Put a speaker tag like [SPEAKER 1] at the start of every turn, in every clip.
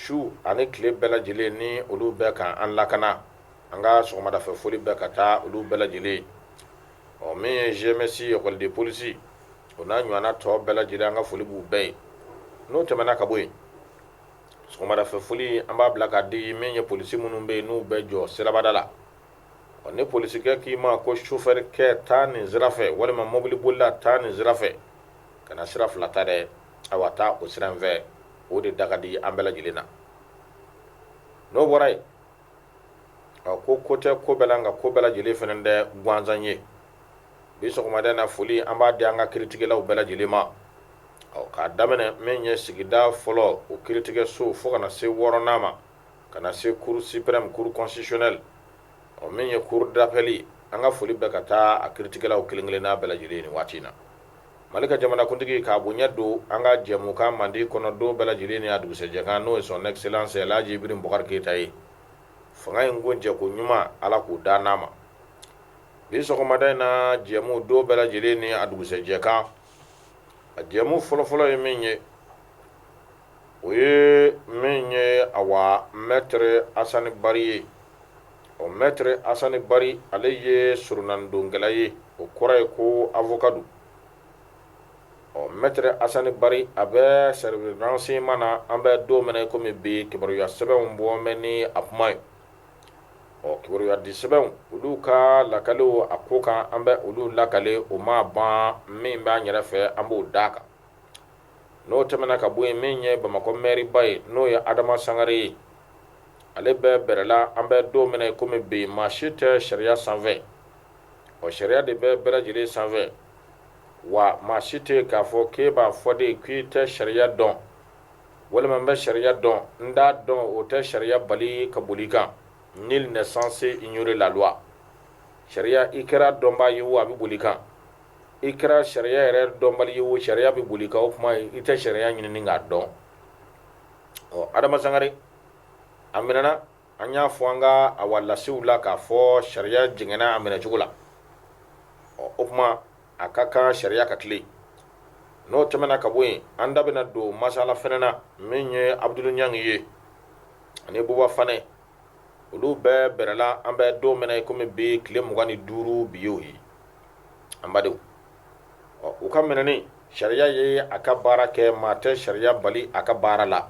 [SPEAKER 1] su ani tile bɛɛ lajɛlen ni olu bɛ ka an lakana an ka sɔgɔmadafɛ foli bɛ ka taa olu bɛɛ lajɛlen ɔ min ye gmsi ekɔli de polisi o n'a ɲɔgɔnna tɔ bɛɛ lajɛlen an ka foli b'u bɛɛ ye n'o tɛmɛna ka bɔ yen sɔgɔmadafɛ foli an b'a bila ka di min ye polisi minnu bɛ yen n'u bɛ jɔ sirabada la ɔ ni polisikɛ k'i ma ko sofɛrikɛ taa nin sira fɛ walima mɔbilibolila taa nin sira fɛ kana sira fila ta dɛ awa taa o sira in fɛ o de da ka di an bɛɛ lajɛlen na n'o bɔra yen a ko ko tɛ ko bɛɛ la nka ko bɛɛ lajɛlen fana tɛ gansan ye bi sɔgɔmada in na foli an b'a di an ka kiritigɛlaw bɛɛ lajɛlen ma ɔ k'a daminɛ min ye sigida fɔlɔ o kiritigɛso fo ka na se wɔɔrɔnan ma ka na se cour suprême cour constitutionnelle ɔ min ye cour d'appel an ka foli bɛ ka taa a kiritigɛlaw kelen-kelenna bɛɛ lajɛlen nin waati in na mali ka jamanakuntigi k'a bonya don an ka jɛmukan manden kɔnɔ don bɛɛ lajɛlen ni a dugusɛjɛkan n'o ye son excellence alhaji ibrahim bubakari keyita ye fanga in kuncɛko ɲuman ala k'o da n'a ma bi sɔgɔmada in na jɛmu don bɛɛ lajɛlen ni a dugusɛjɛkan a jɛmu fɔlɔfɔlɔ ye min ye o ye min ye awa mɛtre asani bari ye ɔ mɛtre asani bari ale ye soronnadonkɛla ye o kɔrɔ ye ko avocat don ɔ mɛtre asani bari a bɛ service renseignement na an bɛ don min na kɔmi bi kibaruya sɛbɛnw bɔ mɛn ni a kuma ye ɔ kibaruya di sɛbɛnw olu ka lakaliw a ko kan an bɛ olu lakale o ma ban min b'an yɛrɛ fɛ an b'o d'a kan n'o tɛmɛna ka bɔ yen min ye bamakɔ mɛriba ye n'o ye adama sangare ye ale bɛ bɛrɛla an bɛ don min na i kɔmi bi maa si tɛ sariya sanfɛ o sariya de bɛ bɛɛ lajɛlen sanfɛ wa maa si tɛ k'a fɔ k'e b'a fɔ de k'i tɛ sariya dɔn walima n bɛ sariya dɔn n t'a dɔn o tɛ sariya bali ka boli kan nul n'est censé ignorer la loi sariya i kɛra dɔnbaa ye o a bɛ boli kan i kɛra sariya yɛrɛ dɔnbali ye o sariya bɛ boli kan o kuma i tɛ sariya ɲini k'a dɔn ɔ adama sangare a minɛna an y'a fɔ an ka a wa lasiw la k'a fɔ sariya jɛngɛnna a minɛ cogo la ɔ o kuma a ka kan sariya ka tilen n'o tɛmɛna ka bɔ yen an da bɛna don masala fɛnɛ na min ye abudulu ɲangi ye ani buba fanɛ olu bɛ bɛrɛla an bɛ don min na i komi bi tile mugan ni duuru bi y'o ye an badenw ɔ u ka minɛni sariya ye a ka baara kɛ maa tɛ sariya bali a ka baara la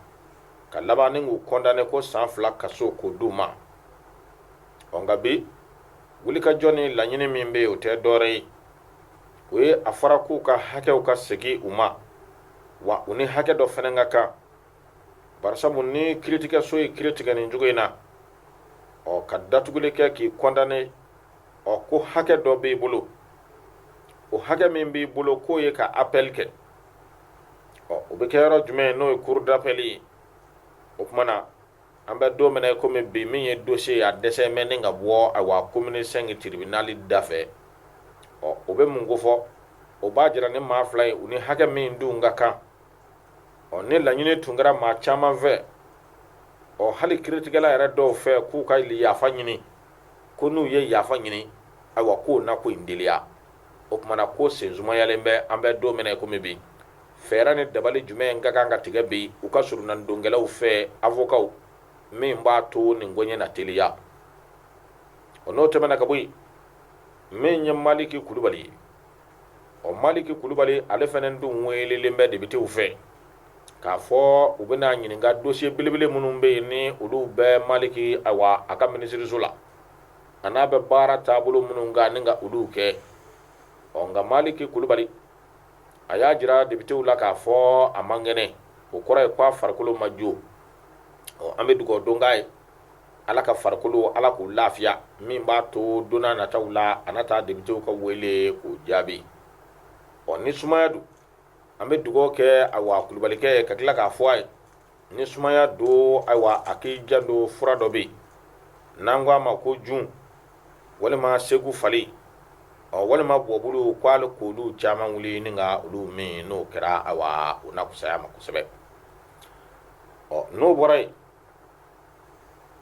[SPEAKER 1] ka laban ni k'u kɔndane ko san fila kaso k'o d'u ma ɔ nka bi wulikajɔ ni laɲini min bɛ yen o tɛ dɔɔrɛ ye o ye a fɔra k'u ka hakɛw ka segin u ma wa u ni hakɛ dɔ fɛnɛ ka kan barisabu ni kiritigɛso ye kiritigɛ nin cogo in na ɔ ka datuguli kɛ k'i kɔndane ɔ ko hakɛ dɔ b'i bolo o hakɛ min b'i bolo k'o ye ka apɛli kɛ ɔ o bɛ kɛ yɔrɔ jumɛn n'o ye kurudapɛli ye o tuma na an bɛ don min na komi bi min ye dosiye a dɛsɛ mɛ ni ka bɔ awa komini sɛnki tiribinali da fɛ ɔ o bɛ mun ko fɔ o b'a jira ni maa fila ye u ni hakɛ min dun ka kan ɔ ni laɲini tun kɛra maa caman fɛ ɔ hali kiritigɛla yɛrɛ dɔw fɛ k'u ka yafa ɲini ko n'u ye yafa ɲini ayiwa k'o na ko in teliya o tumana ko sensumayalen bɛ an bɛ don min na komi bi fɛɛrɛ ni dabali jumɛn ka kan ka tigɛ bi u ka soronadonkɛlaw fɛ avokaw min b'a to nin ko ɲɛ na teliya o n'o tɛmɛna ka bɔ yen min ye maliki kulubali ye ɔ maliki kulubali ale fɛnɛ dun welelen bɛ depitew fɛ k'a fɔ u bɛna ɲininka dosiye belebele minnu bɛ yen ni olu bɛ maliki awa a ka minisiriso la a n'a bɛ baara taabolo minnu kan ni ka olu kɛ ɔ nka maliki kulubali a y'a jira depitew la k'a fɔ a man kɛnɛ o kɔrɔ ye ko a farikolo ma jo ɔ an bɛ dugawu don k'a ye ala ka farikolo ala k'a lafiya min b'a to donna nataw la a na taa depitew ka wele k'o jaabi ɔ ni sumaya don an bɛ dugaw kɛ awa kulubalikɛ ka tila k'a fɔ a ye ni sumaya don ayiwa a k'i janto fura dɔ bɛ yen n'an ko a ma ko jun walima segufali ɔ walima bɔbulu k'ale k'olu caman wuli ni ka olu min n'o kɛra ayiwa o na kusaya ma kosɛbɛ ɔ n'o bɔra yen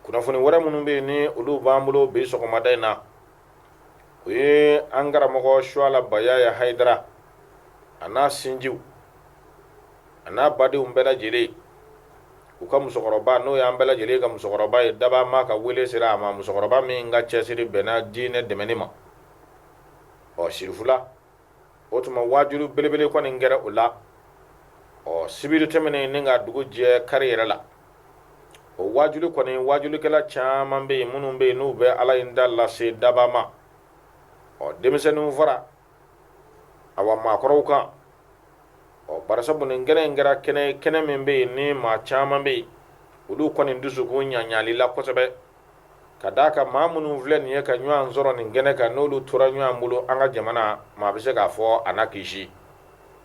[SPEAKER 1] kunnafoni wɛrɛ minnu bɛ yen ni olu b'an bolo bi sɔgɔmada in na o ye an karamɔgɔ suwala bayaya hayidara a n'a sinjiw a n'a badenw bɛɛ lajɛlen u ka musokɔrɔba n'o y'an bɛɛ lajɛlen ka musokɔrɔba ye dabaa ma ka wele sera a ma musokɔrɔba min ka cɛsiri bɛnna diinɛ dɛmɛni ma ɔ sirifula o tuma waajuli belebele kɔni kɛra o la ɔ sibiri tɛmɛnen ni ka dugu jɛ kari yɛrɛ la o waajuli kɔni waajulikɛla caman bɛ yen minnu bɛ yen n'u bɛ ala in da lase daba ma ɔ denmisɛnninw fara awa maakɔrɔw kan ɔ barisabu nin kɛnɛ in kɛra kɛnɛ kɛnɛ min bɛ yen ni maa caman bɛ yen olu kɔni dusukun ɲaɲalila kosɛbɛ ka d'a kan maa minnu filɛ nin ye ka ɲɔgɔn sɔrɔ nin kɛnɛ kan n'olu tora ɲɔgɔn bolo an ka jamana maa bɛ se k'a fɔ a na kisi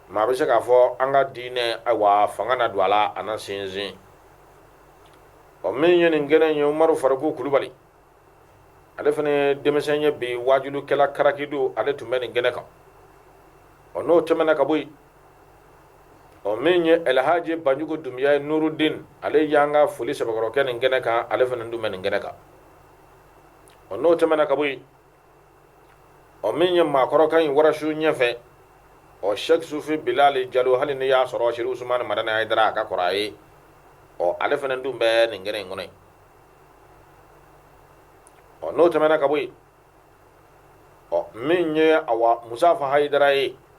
[SPEAKER 1] maa bɛ se k'a fɔ an ka diinɛ ayiwa fanga na don a la a na sinsin ɔ min ye nin kɛnɛ in ye umaru fariku kulubali ale fana ye denmisɛn ye bi waajulikɛla karakido ale tun bɛ nin kɛnɛ kan ɔ n'o tɛmɛna ka bɔ yen ɔ min ye alhaji banjugu dumbuya ye nurudin ale y'an ka foli sɛbɛkɔrɔ kɛ nin kɛnɛ kan ale fana dun bɛ nin kɛnɛ kan ɔ n'o tɛmɛna ka bɔ yen ɔ min ye maakɔrɔkan in warasu ɲɛfɛ ɔ sɛki sufi bilali jalo hali ni y'a sɔrɔ seri usumani madani hayidara a ka kɔrɔ a ye ɔ ale fana dun bɛ nin kɛnɛ in kɔnɔ yen ɔ n'o tɛmɛna ka bɔ yen ɔ min ye awa musafa hayidara ye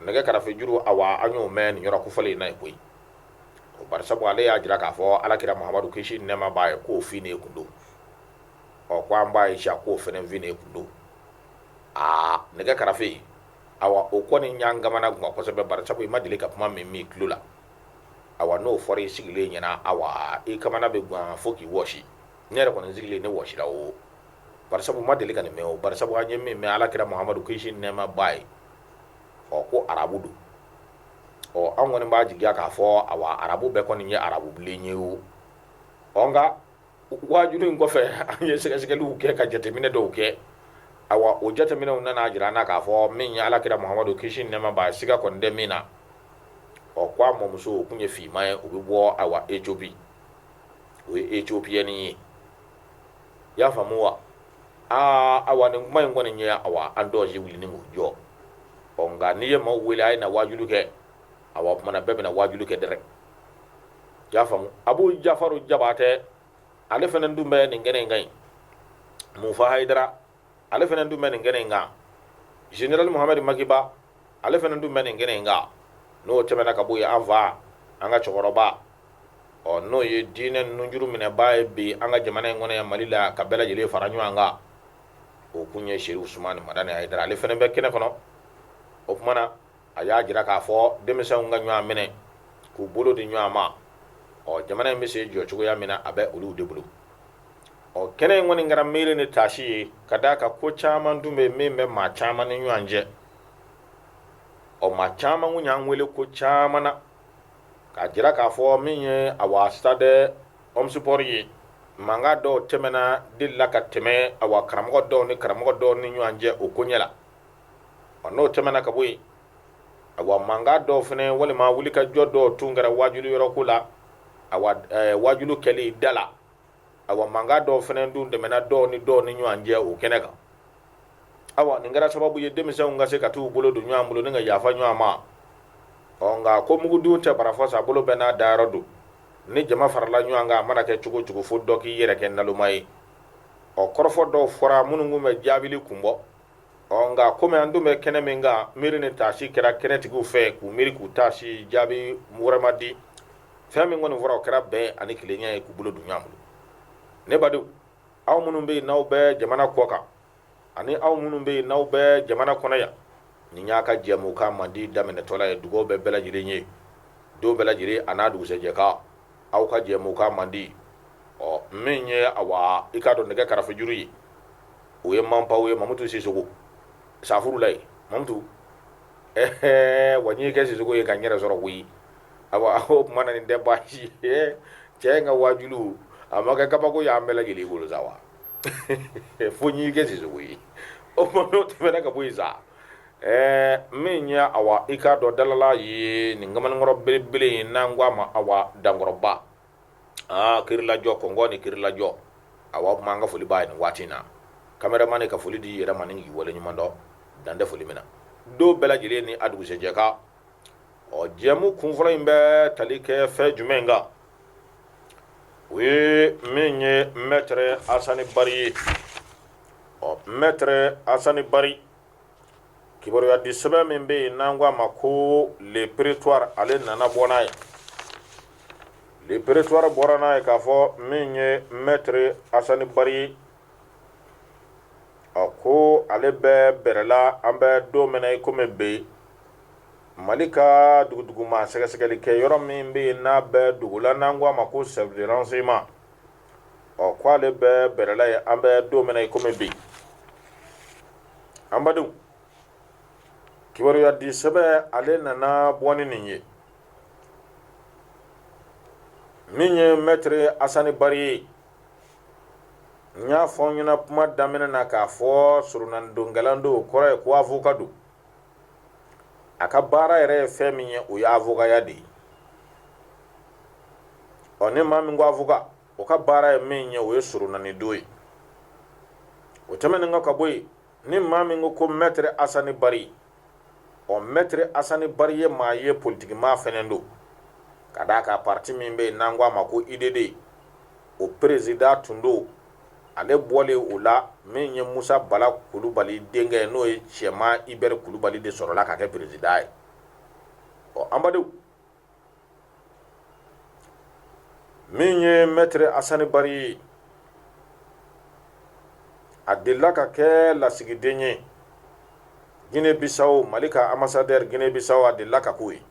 [SPEAKER 1] nɛgɛ karafe juru awa an y'o mɛn nin yɔrɔ kofɔlen in na yen koyi o bari sabu ale y'a jira k'a fɔ alakira mahamadu kisi ni nɛɛma b'a ye k'o fin ne kun don ɔ ko anabi isa k'o fɛnɛ fin ne kun don aa nɛgɛ karafe awa o kɔni y'an kamana guwan kosɛbɛ bari sabu i ma deli ka kuma min mɛn i tulo la awa n'o fɔra i sigilen ɲɛna awa i kamana bɛ guwan fo k'i wɔsi ne yɛrɛ kɔni sigilen ne wɔsira o bari sabu n ma deli ka nin mɛn o bari sabu an ye min mɛn alakira mahamadu kisi ni nɛɛma b'a ye ɔ ko arabu don ɔ an kɔni b'a jigiya k'a fɔ awa arabu bɛɛ kɔni ye arabu bilen ye o ɔ nka waajulu in kɔfɛ an ye sɛgɛsɛgɛliw kɛ ka jateminɛ dɔw kɛ awa o jateminɛw nana jira an na k'a fɔ min ye alakira mahamadu kisi ni nɛɛma b'a ye siga kɔni tɛ min na ɔ ko a mɔmuso o kun ye finman ye o bɛ bɔ awa ethiopie o ye ethiopienne ye i y'a faamu wa aa awa nin kuma in kɔni ye awa an dɔw si wuli ni k'u jɔ ɔ nka n'i ye maaw wele a ye na waajulu kɛ awa o tumana bɛɛ bɛna waajulu kɛ dɛrɛ i y'a faamu abu jafaru jabatɛ ale fana dun bɛ nin kɛnɛ in kan yen mufa hayidara ale fana dun bɛ nin kɛnɛ in kan general muhamadu maki ba ale fana dun bɛ nin kɛnɛ in kan n'o tɛmɛna ka bɔ yen an fa an ka cɛkɔrɔba ɔ n'o ye diinɛ nunjuru minɛbaa ye bi an ka jamana in kɔnɔ yan mali la ka bɛɛ lajɛlen fara ɲɔgɔn kan o kun ye seri usumani madani hayidara ale fana bɛ kɛnɛ kɔnɔ o kumana a y'a jira k'a fɔ denmisɛnw ka ɲɔgɔn minɛ k'u bolo di ɲɔgɔn ma ɔ jamana in bɛ se jɔ cogoya min na a bɛ olu de bolo ɔ kɛnɛ in kɔni kɛra miiri ni taasi ye ka d'a kan ko caman dun bɛ min bɛ maa caman ni ɲɔgɔn cɛ ɔ maa caman kun y'an wele ko caman na k'a jira k'a fɔ min ye awa stade omnisports ye mankan dɔw tɛmɛna delila ka tɛmɛ awa karamɔgɔ dɔw ni karamɔgɔ dɔw ni ɲɔgɔn cɛ o ko ɲɛ la ɔ n'o tɛmɛna ka bɔ yen awa mankan dɔw fɛnɛ walima wulikajɔ dɔw tun kɛra wajulu yɔrɔ ko la awa ɛɛ wajulu kɛli da la awa mankan dɔw fɛnɛ dun tɛmɛna dɔw ni dɔw ni ɲɔgɔn cɛ o kɛnɛ kan awa nin kɛra sababu ye denmisɛnw ka se ka t'u bolo don ɲɔgɔn bolo ni ka yafa ɲɔgɔn ma ɔ nka ko mugudun tɛ barafɔ sa bolo bɛɛ n'a dayɔrɔ don ni jama farala ɲɔgɔn kan a mana kɛ cogo cogo fo dɔ k'i yɛrɛ kɛ naloma ye ɔ kɔrɔfɔ dɔw fɔra minnu tun bɛ jaabili kun bɔ ɔ nka komi an dun bɛ kɛnɛ min kan miiri ni taasi kɛra kɛnɛtigiw fɛ k'u miiri k'u taasi jaabi wɛrɛ ma di fɛn min kɔni fɔra o kɛra bɛn ani kelenya ye k'u bolo don ɲɔgɔn bolo ne badenw aw minnu bɛ yen n'aw bɛ jamana kɔ kan ani aw minnu bɛ yen n'aw bɛ jamana kɔnɔ yan nin y'a ka jɛmukan mandi daminɛtɔla ye dugawu bɛ bɛɛ lajɛlen ye don bɛɛ lajɛlen an'a dugusɛjɛ kan aw ka jɛmukan mandi ɔ min ye awa i k'a dɔn nɛgɛ karafe juru ye o ye manbaw ye mamutu sisogo safurula ye mamutu ɛɛ wa n'i kɛ sisogo ye ka n yɛrɛ sɔrɔ koyi awa o tuma na nin tɛ baasi ye cɛ in ka wajulu a ma kɛ kabako ye an bɛɛ lajɛlen bolo sa wa fo n'i kɛ sisogo ye o tuma n'o tɛmɛna ka bɔ yen sa Ɛɛ min ye awa i k'a dɔn dalala ye nin kamalenkɔrɔ belebele ye n'an ko a ma awa dankɔrɔba aa kirilajɔ kɔngɔ ni kirilajɔ awa o tuma an ka foli b'a ye nin waati in na cameraman ka foli d'i yɛrɛ ma n'i waleɲumandɔn dan tɛ foli min na don bɛɛ lajɛlen ni a dugusɛjɛ kan ɔ jɛmu kunfɔlɔ in bɛ tali kɛ fɛn jumɛn kan o ye min ye maître asani bari ye ɔ maître asani bari kibaruya di sɛbɛn min bɛ yen n'an ko a ma ko le prétoire ale nana bɔ n'a ye le prétoire bɔra n'a ye k'a fɔ min ye maître asani bari ye ɔ ko ale bɛ bɛrɛla an bɛ don min na i kɔmi bi yen mali ka dogodogoma sɛgɛsɛgɛli kɛ yɔrɔ min bɛ yen n'a bɛ dogo la n'an ko a ma ko service de renseignement ɔ ko ale bɛ bɛrɛla yen an bɛ don min na i komi bi an badenw kibaruya di sɛbɛn ale nana bɔ ni nin ye min ye maître asani bari ye n y'a fɔ n ɲɛna kuma daminɛ na k'a fɔ soronnadonkɛla don o kɔrɔ ye ko awoka don a ka baara yɛrɛ ye fɛn min ye o ye awokaya de ye ɔ ni maa min ko awoka o ka baara ye min ye o ye soronnadon ye o tɛmɛnen kɔ ka bɔ yen ni maa min ko ko maître asani bari ɔ maître asani bari ye maa ye politikimaa fɛnɛ don ka d'a kan parti min bɛ yen n'an ko a ma ko UDD o président tun don ale bɔlen o la min ye musa bala kulubali denkɛ n'o ye cɛma ibɛri kulubali de sɔrɔla ka kɛ peresidan ye ɔ an badenw min ye mɛtiri asani bari ye a delila ka kɛ lasigiden ye gine bisaw mali ka anbasadɛri gine bisaw a delila ka k'o ye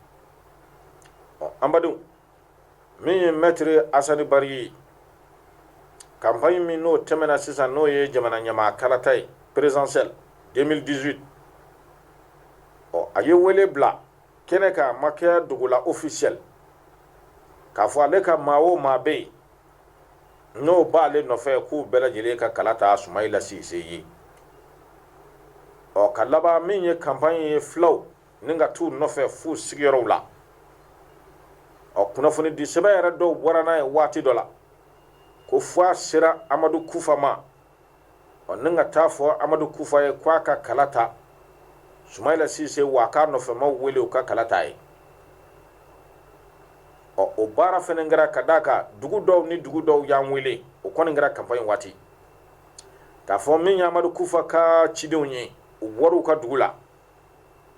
[SPEAKER 1] ɔ an badenw min ye mɛtiri asani bari ye kanpaɲi min n'o tɛmɛna sisan n'o ye jamana ɲamaa kalata ye perezidansiyɛl 2018 ɔ a ye wele bila kɛnɛ kan a ma kɛ dogo la ofisiyɛl k'a fɔ ale ka maa o maa bɛ yen n'o b'ale nɔfɛ k'u bɛɛ lajɛlen ka kala ta sumayila sise ye ɔ ka laban min ye kanpaɲi ye filaw ni ka t'u nɔfɛ f'u sigiyɔrɔw la ɔ kunnafoni di sɛbɛn yɛrɛ dɔw bɔra n'a ye waati dɔ la ko fo a sera amadu kufa ma ɔ ni ka t'a fɔ amadu kufa ye ko a ka kala ta sumayila sise wa a k'a nɔfɛmaw wele u ka kala t'a ye ɔ o baara fɛnɛ kɛra ka d'a kan dugu dɔw ni dugu dɔw y'an wele o kɔni kɛra kanpaɲi waati k'a fɔ min ye amadu kufa ka cidenw ye u bɔr'u ka dugu la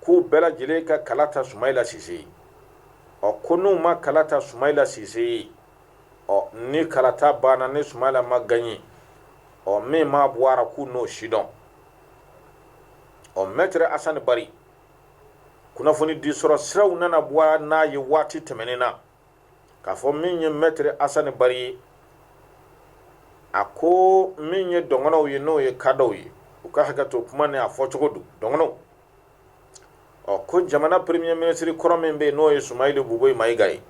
[SPEAKER 1] k'u bɛɛ lajɛlen ka kala ta Sumayila Sise ye. Ɔ ko n'u ma kala ta Sumayila Sise ye, ɔ ni kalata banna ni Sumayila ma gaɲe, ɔ min maa bɔ a ra k'u n'o sidɔn. Ɔ Mɛtiri Asani Bari kunnafoni di sɔrɔ siraw nana bɔ n'a ye waati tɛmɛnen na. k'a fɔ min ye mɛtiri asani bari ye a ko min ye dɔgɔnɔw ye n'o ye kadɔw ye u ka hakɛ to kuma ni a fɔcogo don dɔgɔnɔw ɔ ko jamana peremiye minisiri kɔrɔ min bɛ yen n'o ye sumayilu bubɛyi mayiga ye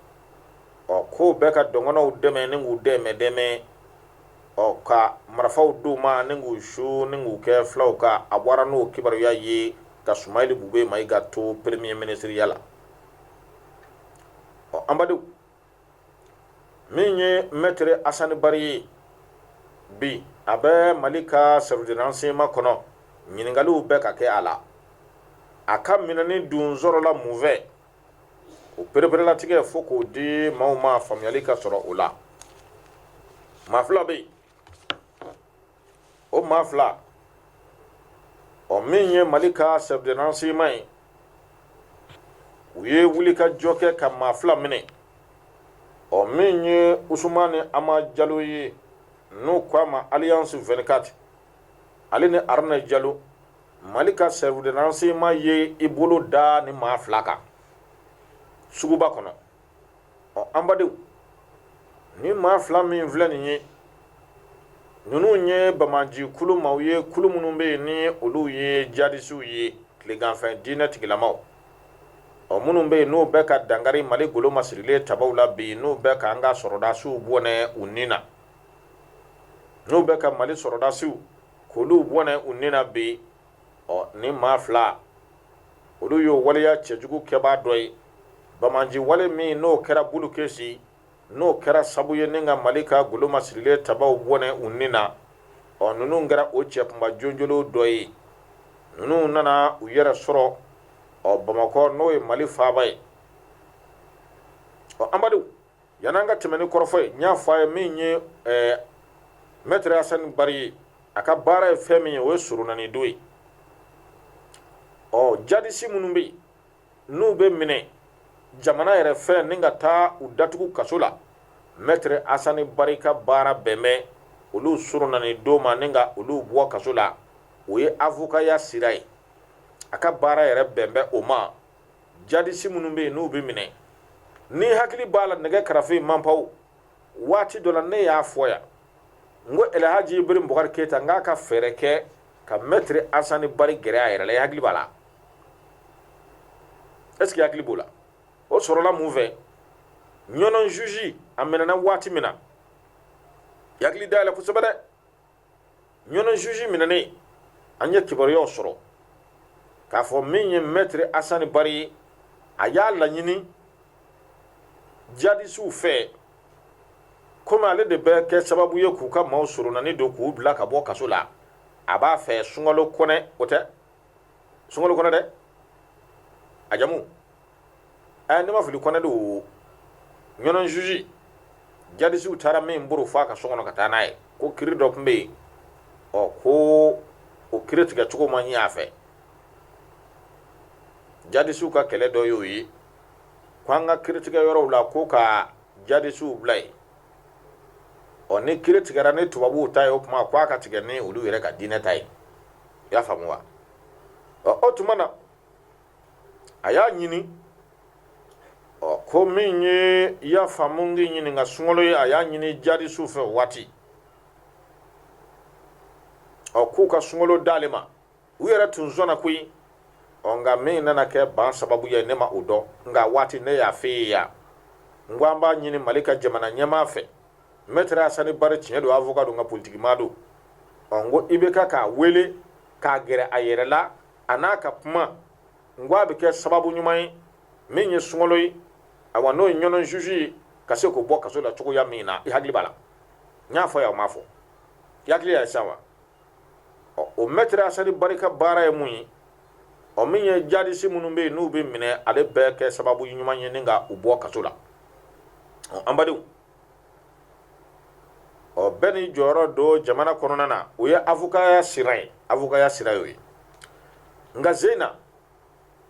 [SPEAKER 1] ɔ k'o bɛ ka dɔgɔnɔw dɛmɛ ni k'u dɛmɛ dɛmɛ ɔ ka marifaw d'u ma ni k'u su ni k'u kɛ fulaw kan a bɔra n'o kibaruya ye ka sumayilu bubɛyi mayiga to peremiye minisiriya la ɔ an badenw min ye mɛtiri asani bari ye bi a bɛ mali ka sɛriwisi de ransɛɲeman kɔnɔ ɲininkakaliw bɛ ka kɛ a la a ka minɛni dun sɔrɔla mun fɛ o pereperelatigɛ fɔ k'o di maaw ma faamuyali ka sɔrɔ o la maa fila bɛ yen o maa fila ɔ min ye mali ka sɛriwisi de ransɛɲeman ye u ye wuli ka jɔ kɛ ka maa fila minɛ ɔ min ye usumani ama jalo ye n'u ko a ma aliyansi 24 ale ni aruna jalo mali ka sɛriwisi de ransɛɲeman ye i bolo da nin maa fila kan suguba kɔnɔ ɔ an badenw ni maa fila min filɛ nin ye ninnu ye bamaji kulu maaw ye kulu minnu bɛ yen ni olu ye jadisiw ye tileganfɛ diinɛ tigilamaw ɔ minnu bɛ yen n'u bɛ ka dankari mali golo masirilen tabaw la bi n'u bɛ ka an ka sɔrɔdasiw bɔnɛ u ni na n'u bɛ ka mali sɔrɔdasiw k'olu bɔnɛ u ni na bi ɔ ni maa fila olu y'o waleya cɛjugu kɛbaa dɔ ye bamanji wale min n'o kɛra bulukesi n'o kɛra sabu ye ni ka mali ka golo masirilen tabaw bɔnɛ u ni na ɔ ninnu kɛra o cɛ kunba jonjolo dɔ ye ninnu nana u yɛrɛ sɔrɔ ɔ bamakɔ n'o ye mali faaba ye ɔ an badenw Yann'an ka tɛmɛ ni kɔrɔfɔ ye n y'a fɔ a ye min ye mɛtiri asani bari ye a ka baara ye fɛn min ye o ye soronani don ye ɔ jadisi minnu bɛ yen n'u bɛ minɛ jamana yɛrɛ fɛ ni ka taa u datugu kaso la mɛtiri asani bari ka baara bɛn bɛ olu soronani don ma ni ka olu bɔ kaso la o ye avokaya sira ye a ka baara yɛrɛ bɛn bɛ o ma jadisi minnu bɛ yen n'u bɛ minɛ n'i hakili b'a la nɛgɛ karafe manpaw waati dɔ la ne y'a fɔ yan n ko elhaji ibrahim bukari keyita n k'a ka fɛɛrɛ kɛ ka mɛtiri asani bari gɛrɛ a yɛrɛ la i hakili b'a la est ce que i hakili b'o la o sɔrɔla mun fɛ ɲɔnɔn juge a minɛna waati min na i hakili dayɛlɛ kosɛbɛ dɛ ɲɔnɔ juge minɛnen an ye kibaruyaw sɔrɔ k'a fɔ min ye maître Assane Bari ye a y'a laɲini djihadisiw fɛ komi ale de bɛ kɛ sababu ye k'u ka maaw soronani don k'u bila ka bɔ kaso la a b'a fɛ sunkalo kɔnɛ o tɛ sunkalo kɔnɛ dɛ a jamu ɛ ne ma fili kɔnɛ don o ɲɔnɔn juge jadisiw taara min boro fo a ka so kɔnɔ ka taa n'a ye ko kiri dɔ tun bɛ yen ɔ ko o kiri tigɛ cogo ma ɲɛ a fɛ jadisiw ka kɛlɛ dɔ y'o ye ko an ka kiri tigɛ yɔrɔw la ko ka jadisiw bila yen ɔ ni kiri tigɛra ni tubabuw ta ye o tuma ko a ka tigɛ ni olu yɛrɛ ka diinɛ ta ye i y'a faamu wa ɔ o tuma na a y'a ɲini ɔ ko min ye i y'a faamu k'i ɲininka sunkalo ye a y'a ɲini jadisiw fɛ waati ɔ k'u ka sunkalo d'ale ma u yɛrɛ tun sɔnna koyi ɔ nka min nana kɛ ban sababu ye ne ma o dɔn nka waati ne y'a f'e ye yan n ko an b'a ɲini mali ka jamana ɲɛmaa fɛ mɛtiri asani bari tiɲɛ don avoka don nka politikimaa don ɔ n ko IBK k'a wele k'a gɛrɛ a yɛrɛ la a n'a ka kuma n ko a bɛ kɛ sababu ɲuman ye min ye sungalo ye awa n'o ye ɲɔnɔn zuzu ye ka se k'o bɔ kaso la cogoya min na i hakili b'a la n y'a fɔ yan o ma fɔ i hakili y'a ye sisan wa ɔ o mɛtiri asani bari ka baara ye mun ye ɔ min ye jadisi minnu bɛ yen n'u bɛ minɛ ale bɛ kɛ sababu ɲuman ye ni ka u bɔ kaso la ɔ an badenw ɔ bɛɛ n'i jɔyɔrɔ don jamana kɔnɔna na o ye avokaya sira ye avokaya sira y'o ye nka zena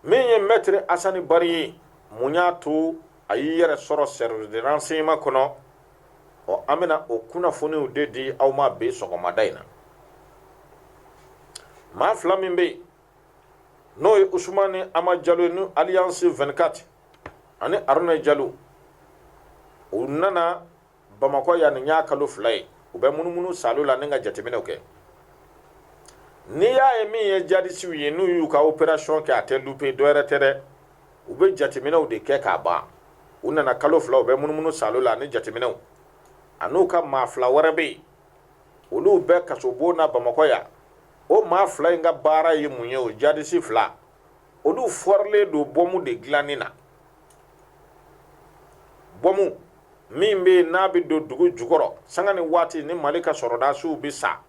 [SPEAKER 1] min ye mɛtiri asani bari ye mun y'a to a y'i yɛrɛ sɔrɔ service de renseignement kɔnɔ ɔ an bɛna o kunnafoniw de di aw ma bi sɔgɔmada in na maa fila min bɛ yen n'o ye usumani ama jalo ye ni alias 24 ani aruna jalo u nana bamakɔ yan nin y'a kalo fila ye u bɛ munumunu salo la ni ka jateminɛw kɛ n'i y'a ye min ye jadisiw ye n'u y'u ka operation kɛ a tɛ lupe dɔ wɛrɛ tɛ dɛ u bɛ jateminɛw de kɛ k'a ban u nana kalo fila u bɛ munumunu salo la ani jateminɛw an'u ka maa fila wɛrɛ bɛ yen olu bɛ kasobon na bamakɔ yan o maa fila in ka baara ye mun ye o jadisi fila olu fɔrilen don bɔmu de dilanni na bɔmu min bɛ yen n'a bɛ don dugu jukɔrɔ sanga ni waati ni mali ka sɔrɔdasiw bɛ sa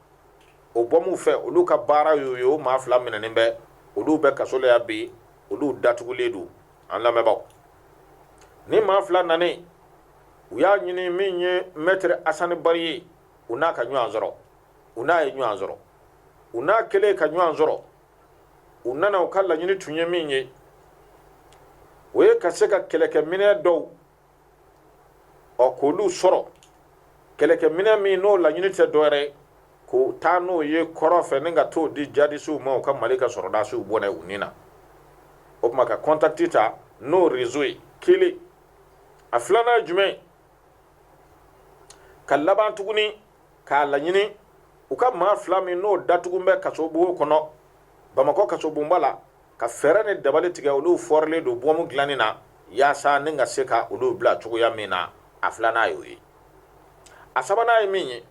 [SPEAKER 1] o bɔmu fɛ olu ka baara y'o ye o maa fila minɛnen bɛ olu bɛ kaso la yan bi olu datugulen don an lamɛnbaaw nin maa fila nanen u y'a ɲini min ye mɛtiri asani bari ye u n'a ka ɲɔgɔn sɔrɔ u n'a ye ɲɔgɔn sɔrɔ u n'a kɛlen ka ɲɔgɔn sɔrɔ u nana u ka laɲini tun ye min ye o ye ka se ka kɛlɛkɛminɛn dɔw ɔ k'olu sɔrɔ kɛlɛkɛminɛn min n'o laɲini tɛ dɔ wɛrɛ ye ka taa n'o ye kɔrɔn fɛ ni ka t'o di jadisiw ma u ka mali ka sɔrɔdasiw bɔnɛ u ni na o tuma ka kɔntakiti ta n'o rezo ye kelen a filanan ye jumɛn ka laban tuguni k'a laɲini u ka maa fila min n'o datugulen bɛ kasobugu kɔnɔ bamakɔ kasobonba la ka fɛɛrɛ ni dabali tigɛ olu fɔrilen don bɔmu dilanni na yaasa ni ka se ka olu bila cogoya min na a filanan y'o ye a sabanan ye min ye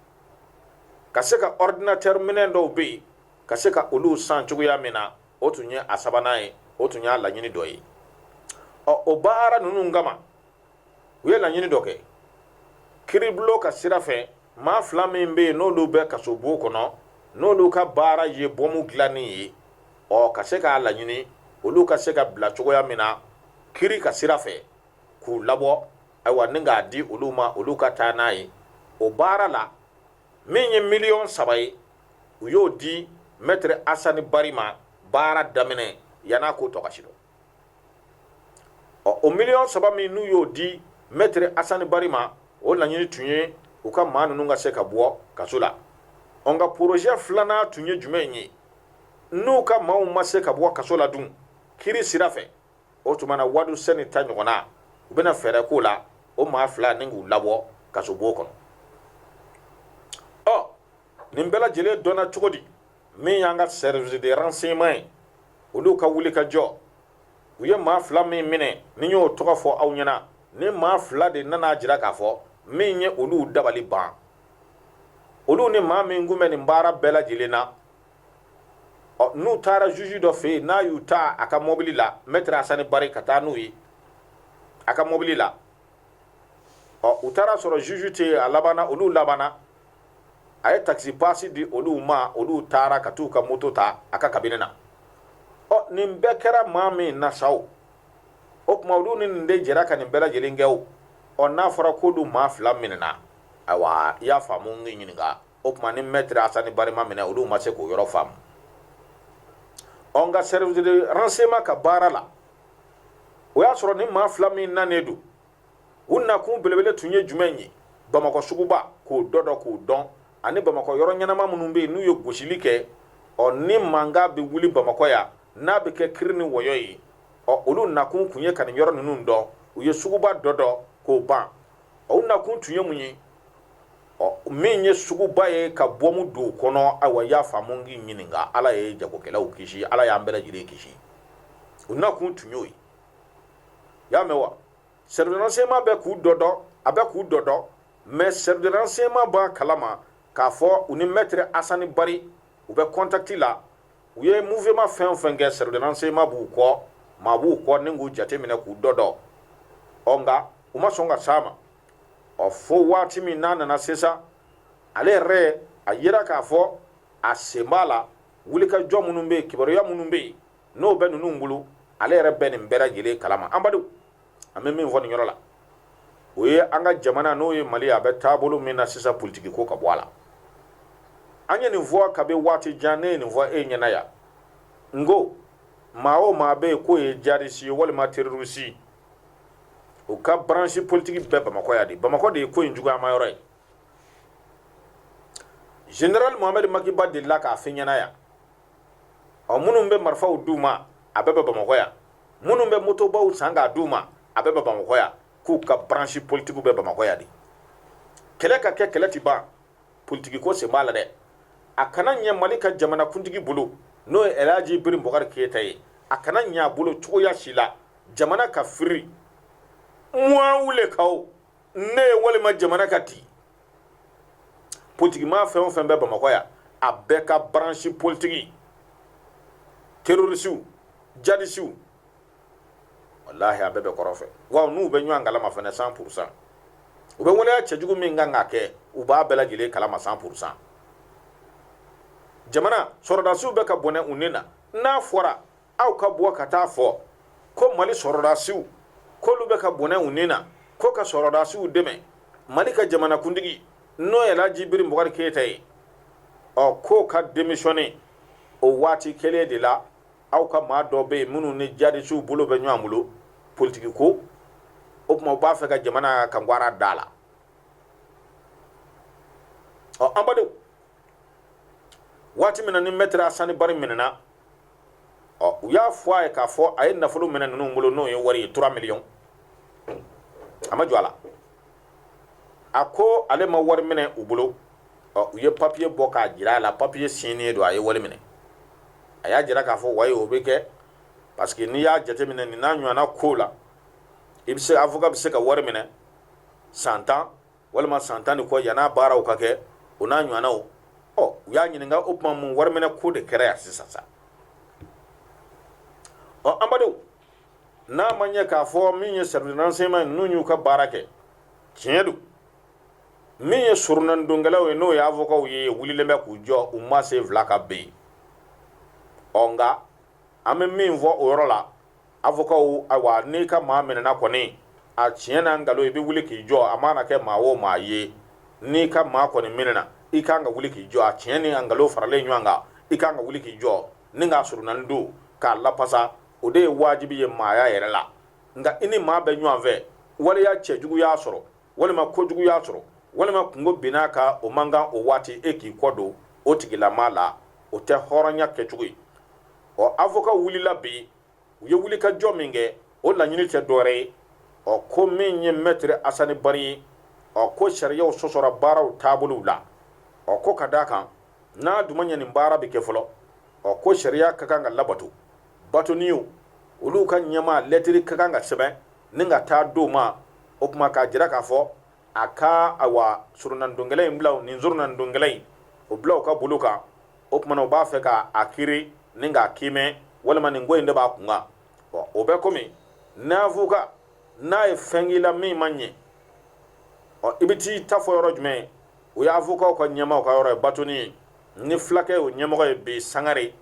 [SPEAKER 1] ka se ka ɔridinatɛri minɛn dɔw bɛ yen ka se ka olu san cogoya min na o tun ye a sabanan ye o tun y'a laɲini dɔ ye ɔ o baara ninnu kama u ye laɲini dɔ kɛ kiribulon ka sira fɛ maa fila min bɛ yen n'olu bɛ kasobon kɔnɔ n'olu ka baara ye bɔmu dilanni ye ɔ ka se k'a laɲini olu ka se ka bila cogoya min na kiri ka sira fɛ k'u labɔ ayiwa ni k'a di olu ma olu ka taa n'a ye o baara la min ye miliyɔn saba ye u y'o di mɛtiri asani bari ma baara daminɛ yann'a ko tɔ ka sidɔn ɔ o miliyɔn saba min n'u y'o di mɛtiri asani bari ma o laɲini tun ye u ka maa ninnu ka se ka bɔ kaso la ɔ nka porozɛ filanan tun ye jumɛn ye n'u ka maaw ma se ka bɔ kaso la dun kiri sira fɛ o tuma na wadusɛni ta ɲɔgɔnna u bɛna fɛɛrɛ k'o la o maa fila ni k'u labɔ kasobon kɔnɔ ɔ nin bɛɛ lajɛlen dɔnna cogo di min y'an ka service de renseignement ye olu ka wuli ka jɔ u ye maa fila min minɛ ne y'o tɔgɔ fɔ aw ɲɛna nin maa fila de nan'a jira k'a fɔ min ye olu dabali ban olu ni maa min tun bɛ nin baara bɛɛ lajɛlen na ɔ n'u taara zuzu dɔ fɛ yen n'a y'u ta a ka mɔbili la mɛtiri asani bari ka taa n'u ye a ka mɔbili la ɔ u taara sɔrɔ zuzu tɛ yen a labanna olu labanna a ye takisi pasi di olu ma olu taara ka t'u ka moto ta a ka kabinɛ na ɔ nin bɛɛ kɛra maa min na sa o o tuma olu ni nin de jɛra ka nin bɛɛ lajɛlen kɛ o ɔ n'a fɔra k'olu maa fila minɛna ayiwa i y'a faamu n k'i ɲininka o tuma ni mɛtiri asani bari ma minɛ olu ma se k'o yɔrɔ faamu ɔ nka service de renseignement ka baara la o y'a sɔrɔ nin maa fila min nanen don u nakun belebele tun ye jumɛn ye bamakɔ suguba k'o dɔdɔ k'o dɔn ani bamakɔ yɔrɔ ɲɛnama minnu bɛ yen n'u ye gosili kɛ ɔ ni mankan bɛ wuli bamakɔ yan n'a bɛ kɛ kiri ni wɔyɔ ye ɔ olu nakun tun ye ka nin yɔrɔ ninnu dɔn u ye suguba dɔdɔ k'o ban ɔ u nakun tun ye mun ye ɔ min ye suguba ye ka bɔmu don o kɔnɔ ayiwa y'a faamu k'i ɲininka ala ye jagokɛlaw kisi ala y'an bɛɛ lajɛlen kisi u nakun tun y'o ye y'a mɛn wa service de renseignement bɛ k'u dɔdɔ a bɛ k'u dɔdɔ mɛ service de renseignement b'a kalama k'a fɔ u ni mɛtiri asani bari u bɛ contact la u ye mouvement fɛn o fɛn kɛ service de renseignement b'u kɔ maa b'u kɔ ni k'u jateminɛ k'u dɔdɔ ɔ nka u ma sɔn ka s'a ma ɔ fo waati min n'a nana sisan ale yɛrɛ a yira k'a fɔ a sen b'a la wulikajɔ minnu bɛ yen kibaruya minnu bɛ yen n'o bɛ ninnu bolo ale yɛrɛ bɛ nin bɛɛ lajɛlen kalama anbadenw an bɛ min fɔ nin yɔrɔ la o ye an ka jamana n'o ye mali a bɛ taabolo min na sisan politiki ko ka bɔ a la an ye nin fɔ kabi waati jan ne ye nin fɔ e ɲɛna yan n ko maa o maa bɛ yen k'o ye jadisi ye walima terorisi u ka baransi politiki bɛ bamakɔ yan de bamakɔ de ye ko in juguyama yɔrɔ ye general mohamɛd maki ba delila k'a fɔ ɲɛna yan ɔ minnu bɛ marifaw d'u ma a bɛɛ bɛ bamakɔ yan minnu bɛ motobaw san k'a d'u ma a bɛɛ bɛ bamakɔ yan k'u ka branche politikiw bɛ bamakɔ yan de kɛlɛ ka kɛ kɛlɛ ti ban politiki ko sen b'a la dɛ a kana ɲɛ mali ka jamanakuntigi bolo n'o ye laji biri bukari keyita ye a kana ɲɛ a bolo cogoya si la jamana ka firi moi ou le chaos ne ye walima jamana ka ti politiki maa fɛn o fɛn bɛ bamakɔ yan a bɛɛ ka baransi politiki terorisiw jadisiw walahi a bɛɛ bɛ kɔrɔ fɛ wa n'u bɛ ɲɔgɔn kalama fana cent pour cent u bɛ waleya cɛjugu min kan k'a kɛ u b'a bɛɛ lajɛlen kalama cent pour cent jamana sɔrɔdasiw bɛ ka bɔnɛ u ni na n'a fɔra aw ka bɔ ka t'a fɔ ko mali sɔrɔdasiw k'olu bɛ ka bɔnɛ u ni na ko ka sɔrɔdasiw dɛmɛ mali ka jamanakuntigi n'o ye laji biri bukari keyita ye ɔ k'o ka démissionner o waati kelen de la aw ka maa dɔ bɛ yen minnu ni jadisiw bolo bɛ ɲɔgɔn bolo politiki ko o tuma u b'a fɛ ka jamana kangwara da la ɔ anbadenw waati min na ni maître asani bari minɛna ɔ u y'a fɔ a ye k'a fɔ a ye nafolo minɛ ninnu bolo n'o ye wari ye trois millions a ma jɔ a la a ko ale ma wari minɛ u bolo ɔ u ye papiye bɔ k'a jira a la papiye signé don a ye wari minɛ a y'a jira k'a fɔ wayi o bɛ kɛ parce que n'i y'a jateminɛ nin n'a ɲɔgɔnna ko la i bɛ se avocat bɛ se ka wari minɛ san tan walima san tan ni kɔ yan'a baaraw ka kɛ o n'a ɲɔgɔnnaw ɔ u y'a ɲininka o tuma mun wariminɛ ko de kɛra yan sisan sa ɔ anbadenw n'a ma ɲɛ k'a fɔ min ye service renseignement ninnu y'u ka baara kɛ tiɲɛ don min ye soronadonkɛlaw ye n'o ye avocaw ye wulilen bɛ k'u jɔ u ma sen fila kan ben ɔ nka an bɛ min fɔ o yɔrɔ la avocaw ayiwa n'i ka maa minɛna kɔni a tiɲɛ n'a nkalon i bɛ wuli k'i jɔ a mana kɛ maa o maa ye n'i ka maa kɔni minɛna i kan ka wuli k'i jɔ a tiɲɛ ni nkalon faralen ɲɔgɔn kan i kan ka wuli k'i jɔ ni k'a soronadon k'a lapasa o de ye wajibi ye maaya yɛrɛ la nka i ni maa bɛ ɲɔgɔn fɛ waleya cɛjugu y'a sɔrɔ walima kojugu y'a sɔrɔ walima kunko binna a kan o man kan o waati e k'i kɔ don o tigilamaa la o tɛ hɔrɔnya kɛcogo ye ɔ avocat wulila bi u ye wuli ka jɔ min kɛ o laɲini tɛ dɔwɛrɛ ye ɔ ko min ye mɛtiri asani bari ye ɔ ko sariyaw sɔsɔra baaraw taabolow la ɔ ko ka d'a kan n'a dun ma ɲɛ nin baara bɛ kɛ fɔlɔ ɔ ko sariya ka kan ka labato batoniw olu ka ɲɛmaa lɛtiri ka kan ka sɛbɛn ni ka taa d'o ma o tuma k'a jira k'a fɔ a ka awa surunandonkɛla in bila o nin surunandonkɛla in o bila u ka bolo kan o tuma na u b'a fɛ ka a kiri ni k'a kiimɛ walima nin ko in de b'a kun kan bɔn o bɛ komi n'avocat n'a ye fɛn k'i la min ma ɲɛ ɔ i bɛ t'i ta fɔ yɔrɔ jumɛn o y'avocatw ka ɲɛmaaw ka yɔrɔ ye batoni ye ni fulakɛ o ɲɛmɔgɔ ye bi sangare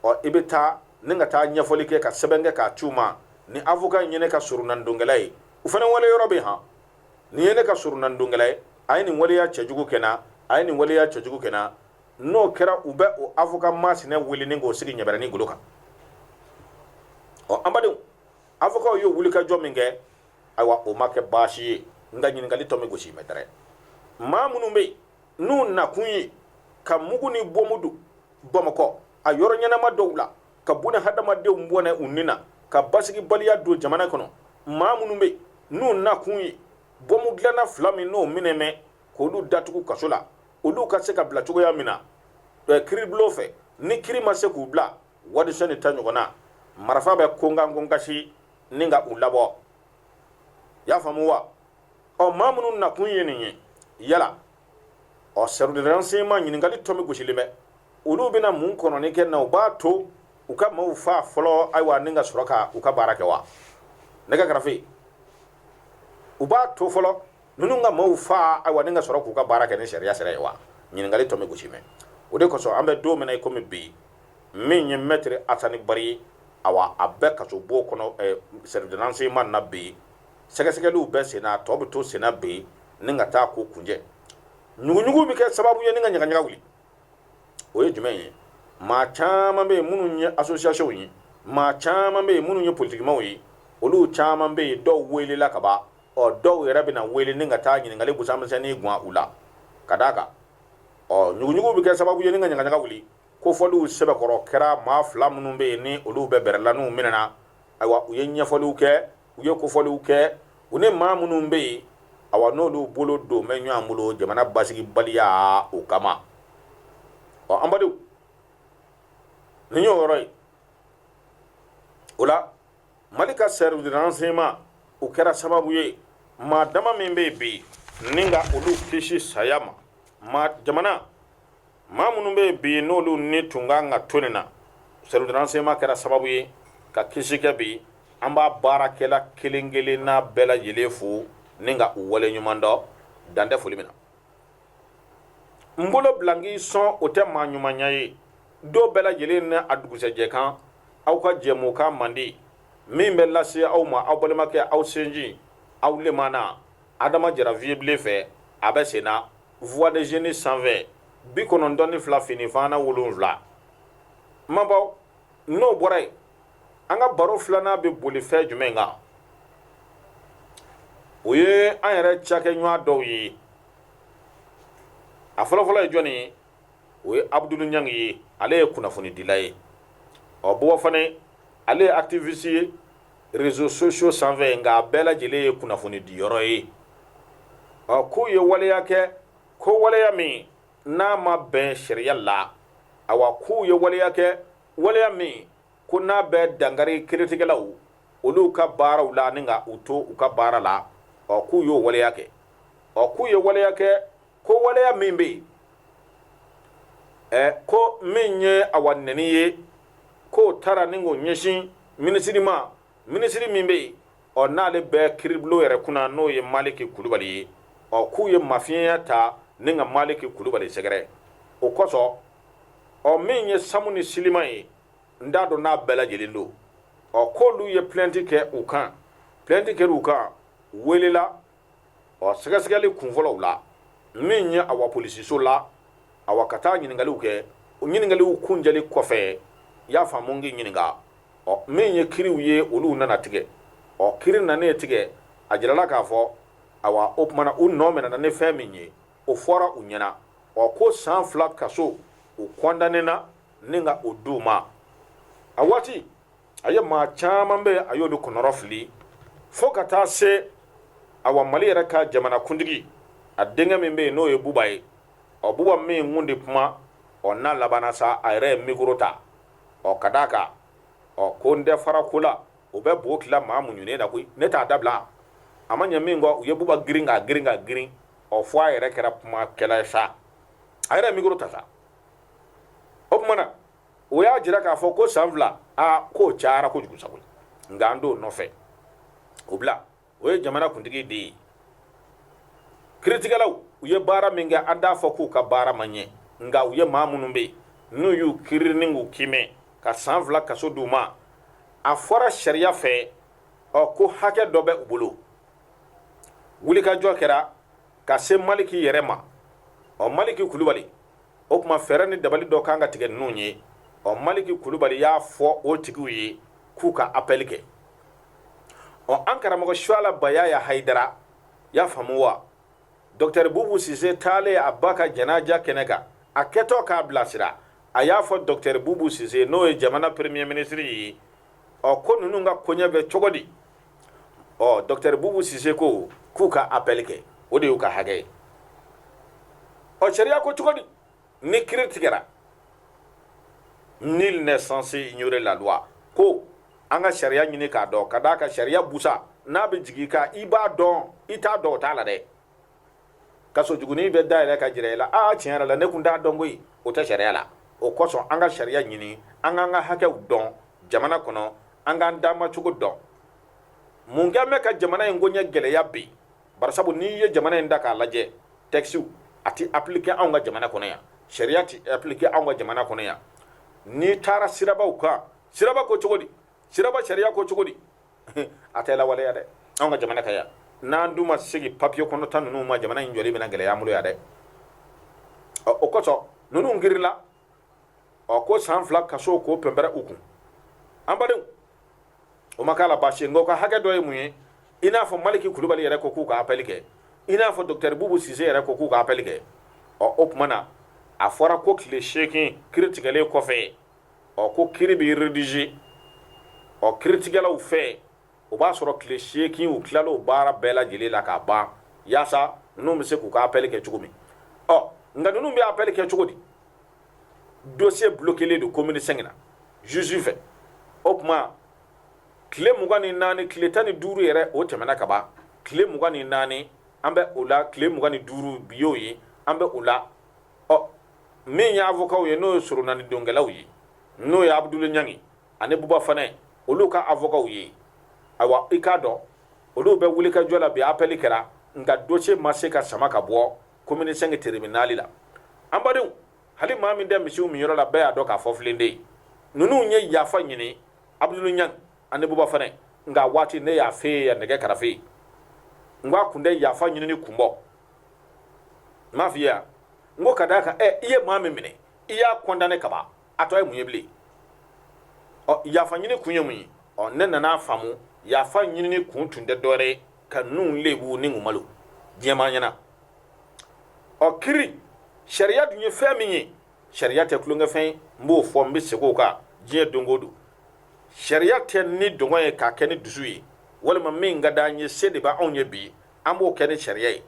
[SPEAKER 1] ɔ i bɛ taa ni ka taa ɲɛfɔli kɛ ka sɛbɛn kɛ k'a ci u ma ni avocat in ye ne ka surunandonkɛla ye u fana wale yɔrɔ bɛ han nin ye ne ka surunandonkɛla ye a ye nin waleya cɛjugu kɛ n na a ye nin waleya cɛjugu kɛ n na n'o kɛra u bɛ o avocat masina wele ni k'o sigi ɲɛbɛrɛni golo kan ɔ an badenw avocatw ye wulikajɔ min kɛ ayiwa o ma kɛ baasi ye nka ɲininkali tomi gosilen bɛ dɛrɛ maa minnu bɛ yen n'u nakun ye ka mugu ni bomu don bamakɔ a yɔrɔ ɲɛnama dɔw la ka buna hadamadenw bɔnɛ u ni na ka basigibaliya don jamana kɔnɔ maa minnu bɛ n'u nakun ye bɔmu dilanna fila min n'o minɛ mɛn k'olu datugu kaso la olu ka se ka bila cogoya min na kiribulon fɛ ni kiri ma se k'u bila wadisɔn ni ta ɲɔgɔn na marifa bɛ konkan konkasi ni ka u labɔ y'a faamu wa ɔ maa minnu nakun ye nin ye yala ɔ service de renseignement ɲininkali tomi gosilen bɛ olu bɛna mun kɔnɔni kɛ na u b'a to u ka maaw fa fɔlɔ ayiwa ni ka sɔrɔ ka u ka baara kɛ wa ne ka karafe u b'a to fɔlɔ ninnu ka maaw fa ayiwa ni ka sɔrɔ k'u ka baara kɛ ni sariya sira ye wa ɲininkali tomi gosilen bɛ o de kosɔn an bɛ don min na i komi bi min ye mɛtiri asani bari ye awa a bɛ kasobon kɔnɔ eh, service de renseignement na bi sɛgɛsɛgɛliw bɛ sen na a tɔ bɛ to sen na bi ni ka taa ko kunjɛ ɲuguɲugu bɛ kɛ sababu ye ni ka ɲagaɲaga wuli o ye jumɛn ye maa caman bɛ yen minnu ye asosiyasɔnw ye maa caman bɛ yen minnu ye politikimaw ye olu caman bɛ yen dɔw welela ka ban ɔ dɔw yɛrɛ bɛna wele ni ka taa ɲininkali busan misɛnnin guwan u la ka d'a kan ɔ ɲuguɲugu bɛ kɛ sababu ye ni ka ɲagaɲaga wuli kofɔliw sɛbɛkɔrɔ kɛra maa fila minnu bɛ yen ni olu bɛ bɛrɛla n'u minɛna ayiwa u ye ɲɛfɔliw kɛ u ye kofɔliw kɛ u ni maa minnu bɛ yen awa n'olu bolo don bɛ ɲɔgɔn bolo jamana basigibaliya o kama ɔ an badenw nin y'o yɔrɔ ye o la mali ka service de renseignement o kɛra sababu ye maa dama min bɛ yen bi ni ka olu kisi saya ma maa jamana maa minnu bɛ yen bi n'olu ni tun ka kan ka to nin na service de renseignement kɛra sababu ye ka kisi kɛ bi an b'a baarakɛla kelen kelen n'a bɛɛ lajɛlen fo ni ka u wale ɲuman dɔn dan tɛ foli min na n bolo bila n k'i sɔn o tɛ maa ɲumanya ye dɔw bɛɛ lajɛlen ni a dugusɛjɛ kan aw ka jɛmukan mandi min bɛ lase aw ma aw balimakɛ aw sinji aw lemana adama jara viyebilen fɛ a bɛ sen na voix des jeunes sanfɛ bi kɔnɔntɔn ni fila fini fana wolonwula mabaw n'o bɔra yen an ka baro filanan bɛ boli fɛn jumɛn kan o ye an yɛrɛ cakɛɲɔgɔn dɔw ye a fɔlɔfɔlɔ ye jɔn ye o ye abudulu ɲangi ye ale ye kunnafonidila ye o bɔ kɔ fana ale ye activiste ye réseaux sociaux sanfɛ nka a bɛɛ lajɛlen ye kunnafoni diyɔrɔ ye ɔ k'u ye waleya kɛ ko waleya min n'a ma bɛn sariya la awa k'u ye waleya kɛ waleya min ko n'a bɛ dankari kiritigɛlaw olu ka baaraw la ani ka u to u ka baara la ɔ k'u y'o waleya kɛ ɔ k'u ye waleya kɛ ko waleya min bɛ yen ko min ye awa nɛni ye k'o taara ni k'o ɲɛsin minisiri ma minisiri min bɛ yen ɔ n'ale bɛ kiribulon yɛrɛ kunna n'o ye maliki kulubali ye ɔ k'u ye mafiɲɛya ta ni ka maliki kulubali sɛgɛrɛ o kosɔn ɔ min ye samu ni silima ye n t'a dɔn n'a bɛɛ lajɛlen don ɔ k'olu ye plainte kɛ u kan plainte kɛra u kan welela ɔ sɛgɛsɛgɛli kunfɔlɔw la min ye awa polisiso la awa ka taa ɲininkaliw kɛ o ɲininkaliw kuncɛli kɔfɛ y'a faamu n k'i ɲininka ɔ min ye kiriw ye olu nana tigɛ ɔ kiri nanen tigɛ a jirala k'a fɔ awa o tumana u nɔ minɛna ni fɛn min ye o fɔra u ɲɛna ɔ ko san fila kaso u kɔndanena ni ka o di u ma a waati a ye maa caman bɛ a y'olu kɔnɔrɔ fili fo ka taa se awa mali yɛrɛ ka jamanakuntigi a denkɛ min bɛ yen n'o ye buba ye ɔ buba min kun de kuma ɔ n'a labanna sa a yɛrɛ ye mikoro ta ɔ ka d'a kan ɔ ko n tɛ fara ko la o bɛ bo tila maa muɲunen na koyi ne t'a dabila a ma ɲɛ min kɔ u ye buba girin ka girin ka girin ɔ fo a yɛrɛ kɛra kumakɛla ye sa a yɛrɛ ye mikoro ta sa o tuma na o y'a jira k'a fɔ ko san fila aa k'o cayara kojugu sago nka an t'o nɔfɛ o bila o ye jamanakuntigi den ye kiritigɛlaw u ye baara min kɛ an t'a fɔ k'u ka baara ma ɲɛ nka u ye maa minnu bɛ yen n'u y'u kiri ni k'u kimɛ ka san fila kaso d'u ma a fɔra sariya fɛ ɔ ko hakɛ dɔ bɛ u bolo wulikajɔ kɛra ka se maliki yɛrɛ ma ɔ maliki kulubali o tuma fɛɛrɛ ni dabali dɔ kan ka tigɛ ninnu ye ɔ maliki kulubali y'a fɔ o tigiw ye k'u ka apɛli kɛ ɔ an karamɔgɔ suala bayaya hayidara y'a faamu wa dɔktɛri bubu sise taalen a ba ka janaja kɛnɛ kan a kɛtɔ k'a bilasira a y'a fɔ dɔktɛri bubu sise n'o ye jamana premier minisiri ye ɔ ko ninnu ka koɲɛ bɛ cogo di ɔ dɔktɛri bubu sise ko k'u ka apɛli kɛ o de y'u ka hakɛ ye ɔ sariya ko cogo di ni kiri tigɛra nul n'est censé ignorer la loi ko an ka sariya ɲini k'a dɔn ka d'a kan sariya busa n'a bɛ jigin i kan i b'a dɔn i t'a dɔn o t'a la dɛ kaso jugunin bɛ dayɛlɛ ka jira i la aa tiɲɛ yɛrɛ la ne kun t'a dɔn koyi o tɛ sariya la o kosɔn an ka sariya ɲini an k'an ka hakɛw dɔn jamana kɔnɔ an k'an damacogo dɔn mun kɛn bɛ ka jamana in koɲɛ gɛlɛya bi barisabu n'i ye jamana in da k'a lajɛ tɛkisiw a tɛ apilike anw ka jamana kɔnɔ yan sariya tɛ apilike anw ka jamana kɔnɔ yan n'i taara sirabaw kan siraba ko cogo di siraba sariya ko cogo di a tɛ lawaleya dɛ anw ka jamana kan yan n'an dun ma segin papiye kɔnɔta ninnu ma jamana in jɔli bɛna gɛlɛya an bolo yan dɛ o kosɔn ninnu kirila ɔ ko san fila kaso k'o pɛnpɛrɛ u kun an badenw o ma k'a la baasi ye nka o ka hakɛ dɔ ye mun ye i n'a fɔ maliki kulubali yɛrɛ ko k'u ka apɛli kɛ i n'a fɔ dɔkitɛri bubu sise yɛrɛ ko k'u ka apɛli kɛ ɔ o tuma na a fɔra ko tile seegin kiri tigɛlen kɔfɛ ɔ ko kiri bɛ redize ɔ kiritigɛlaw fɛ o b'a sɔrɔ tile seegin u tilala o baara bɛɛ lajɛlen la k'a ban yaasa ninnu bɛ se k'u ka apɛli kɛ cogo min ɔ nka ninnu bɛ apɛli kɛ cogo di dosiye bulokelen don komini sɛnki na juge fɛ o tuma tile mugan ni naani tile tan ni duuru yɛrɛ o tɛmɛna ka ban tile mugan ni naani an bɛ o la tile mugan ni duuru bi y'o ye an bɛ o la ɔ min ye avocat ye n'o ye soronani donkɛlaw ye n'o ye abudulu ɲangi ani buba fanɛ olu ka avocat ye awa i k'a dɔn olu bɛ wulikajɔ la bi appel kɛra nka dossier ma se ka sama ka bɔ commune 5 tribunal la an badenw hali maa min tɛ misiw minyɔrɔ la bɛɛ y'a dɔn k'a fɔ filen de ye ninnu ye yafa ɲini abudulu ɲangi ani buba fanɛ nka waati ne y'a f'e ye nɛgɛ karafe n ko a kun tɛ yafa ɲinini kun bɔ n m'a f'i ye yan n ko ka d'a kan ɛ i ye maa min minɛ i y'a kɔndanɛ ka ban a tɔ ye mun ye bilen ɔ yafa ɲini kun ye mun ye ɔ ne nana faamu yafa ɲinini kun tun tɛ dɔwɛrɛ ye ka ninnu lebu ni k'u malo diɲɛmaa ɲɛna ɔ kiri sariya dun ye fɛn min ye sariya tɛ tulonkɛfɛn ye n b'o fɔ n bɛ segin o kan diɲɛ don o don sariya tɛ nidungɔ ye k'a kɛ ni dusu ye walima min ka d'an ye se de b'anw ye bi an b'o kɛ ni sariya ye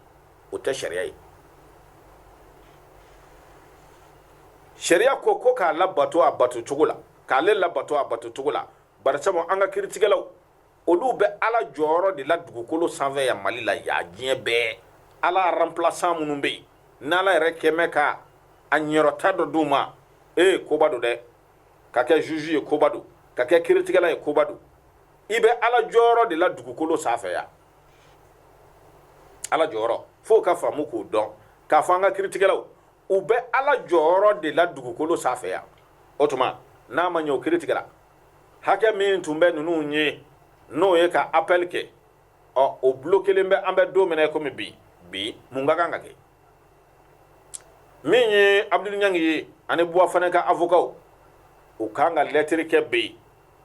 [SPEAKER 1] o tɛ sariya ye sariya ko ko k'a labato a bato cogo la k'ale labato a bato cogo la barisabu an ka kiritigɛlaw olu bɛ ala jɔyɔrɔ de la dugukolo sanfɛ yan mali la yan diɲɛ bɛɛ ala aranplasan minnu bɛ yen n'ala yɛrɛ kɛmɛ ka a ɲɛrɔta dɔ d'u ma ee koba don dɛ ka kɛ juge ye koba don ka kɛ kiritigɛla ye koba don i bɛ ala jɔyɔrɔ de la dugukolo sanfɛ yan ala jɔyɔrɔ fo u ka faamu k'o dɔn k'a fɔ an ka kiritigɛlaw u bɛ ala jɔyɔrɔ de la dugukolo sanfɛ yan o tuma n'a ma ɲɛ o kiritigɛla hakɛ min tun bɛ ninnu ye n'o ye ka apɛli kɛ ɔ o bulo kelen bɛ an bɛ don min na komi bi bi mun ka kan ka kɛ min ye abudulu ɲangi ye ani buba fanɛ ka avokaw u kan ka lɛtiri kɛ bi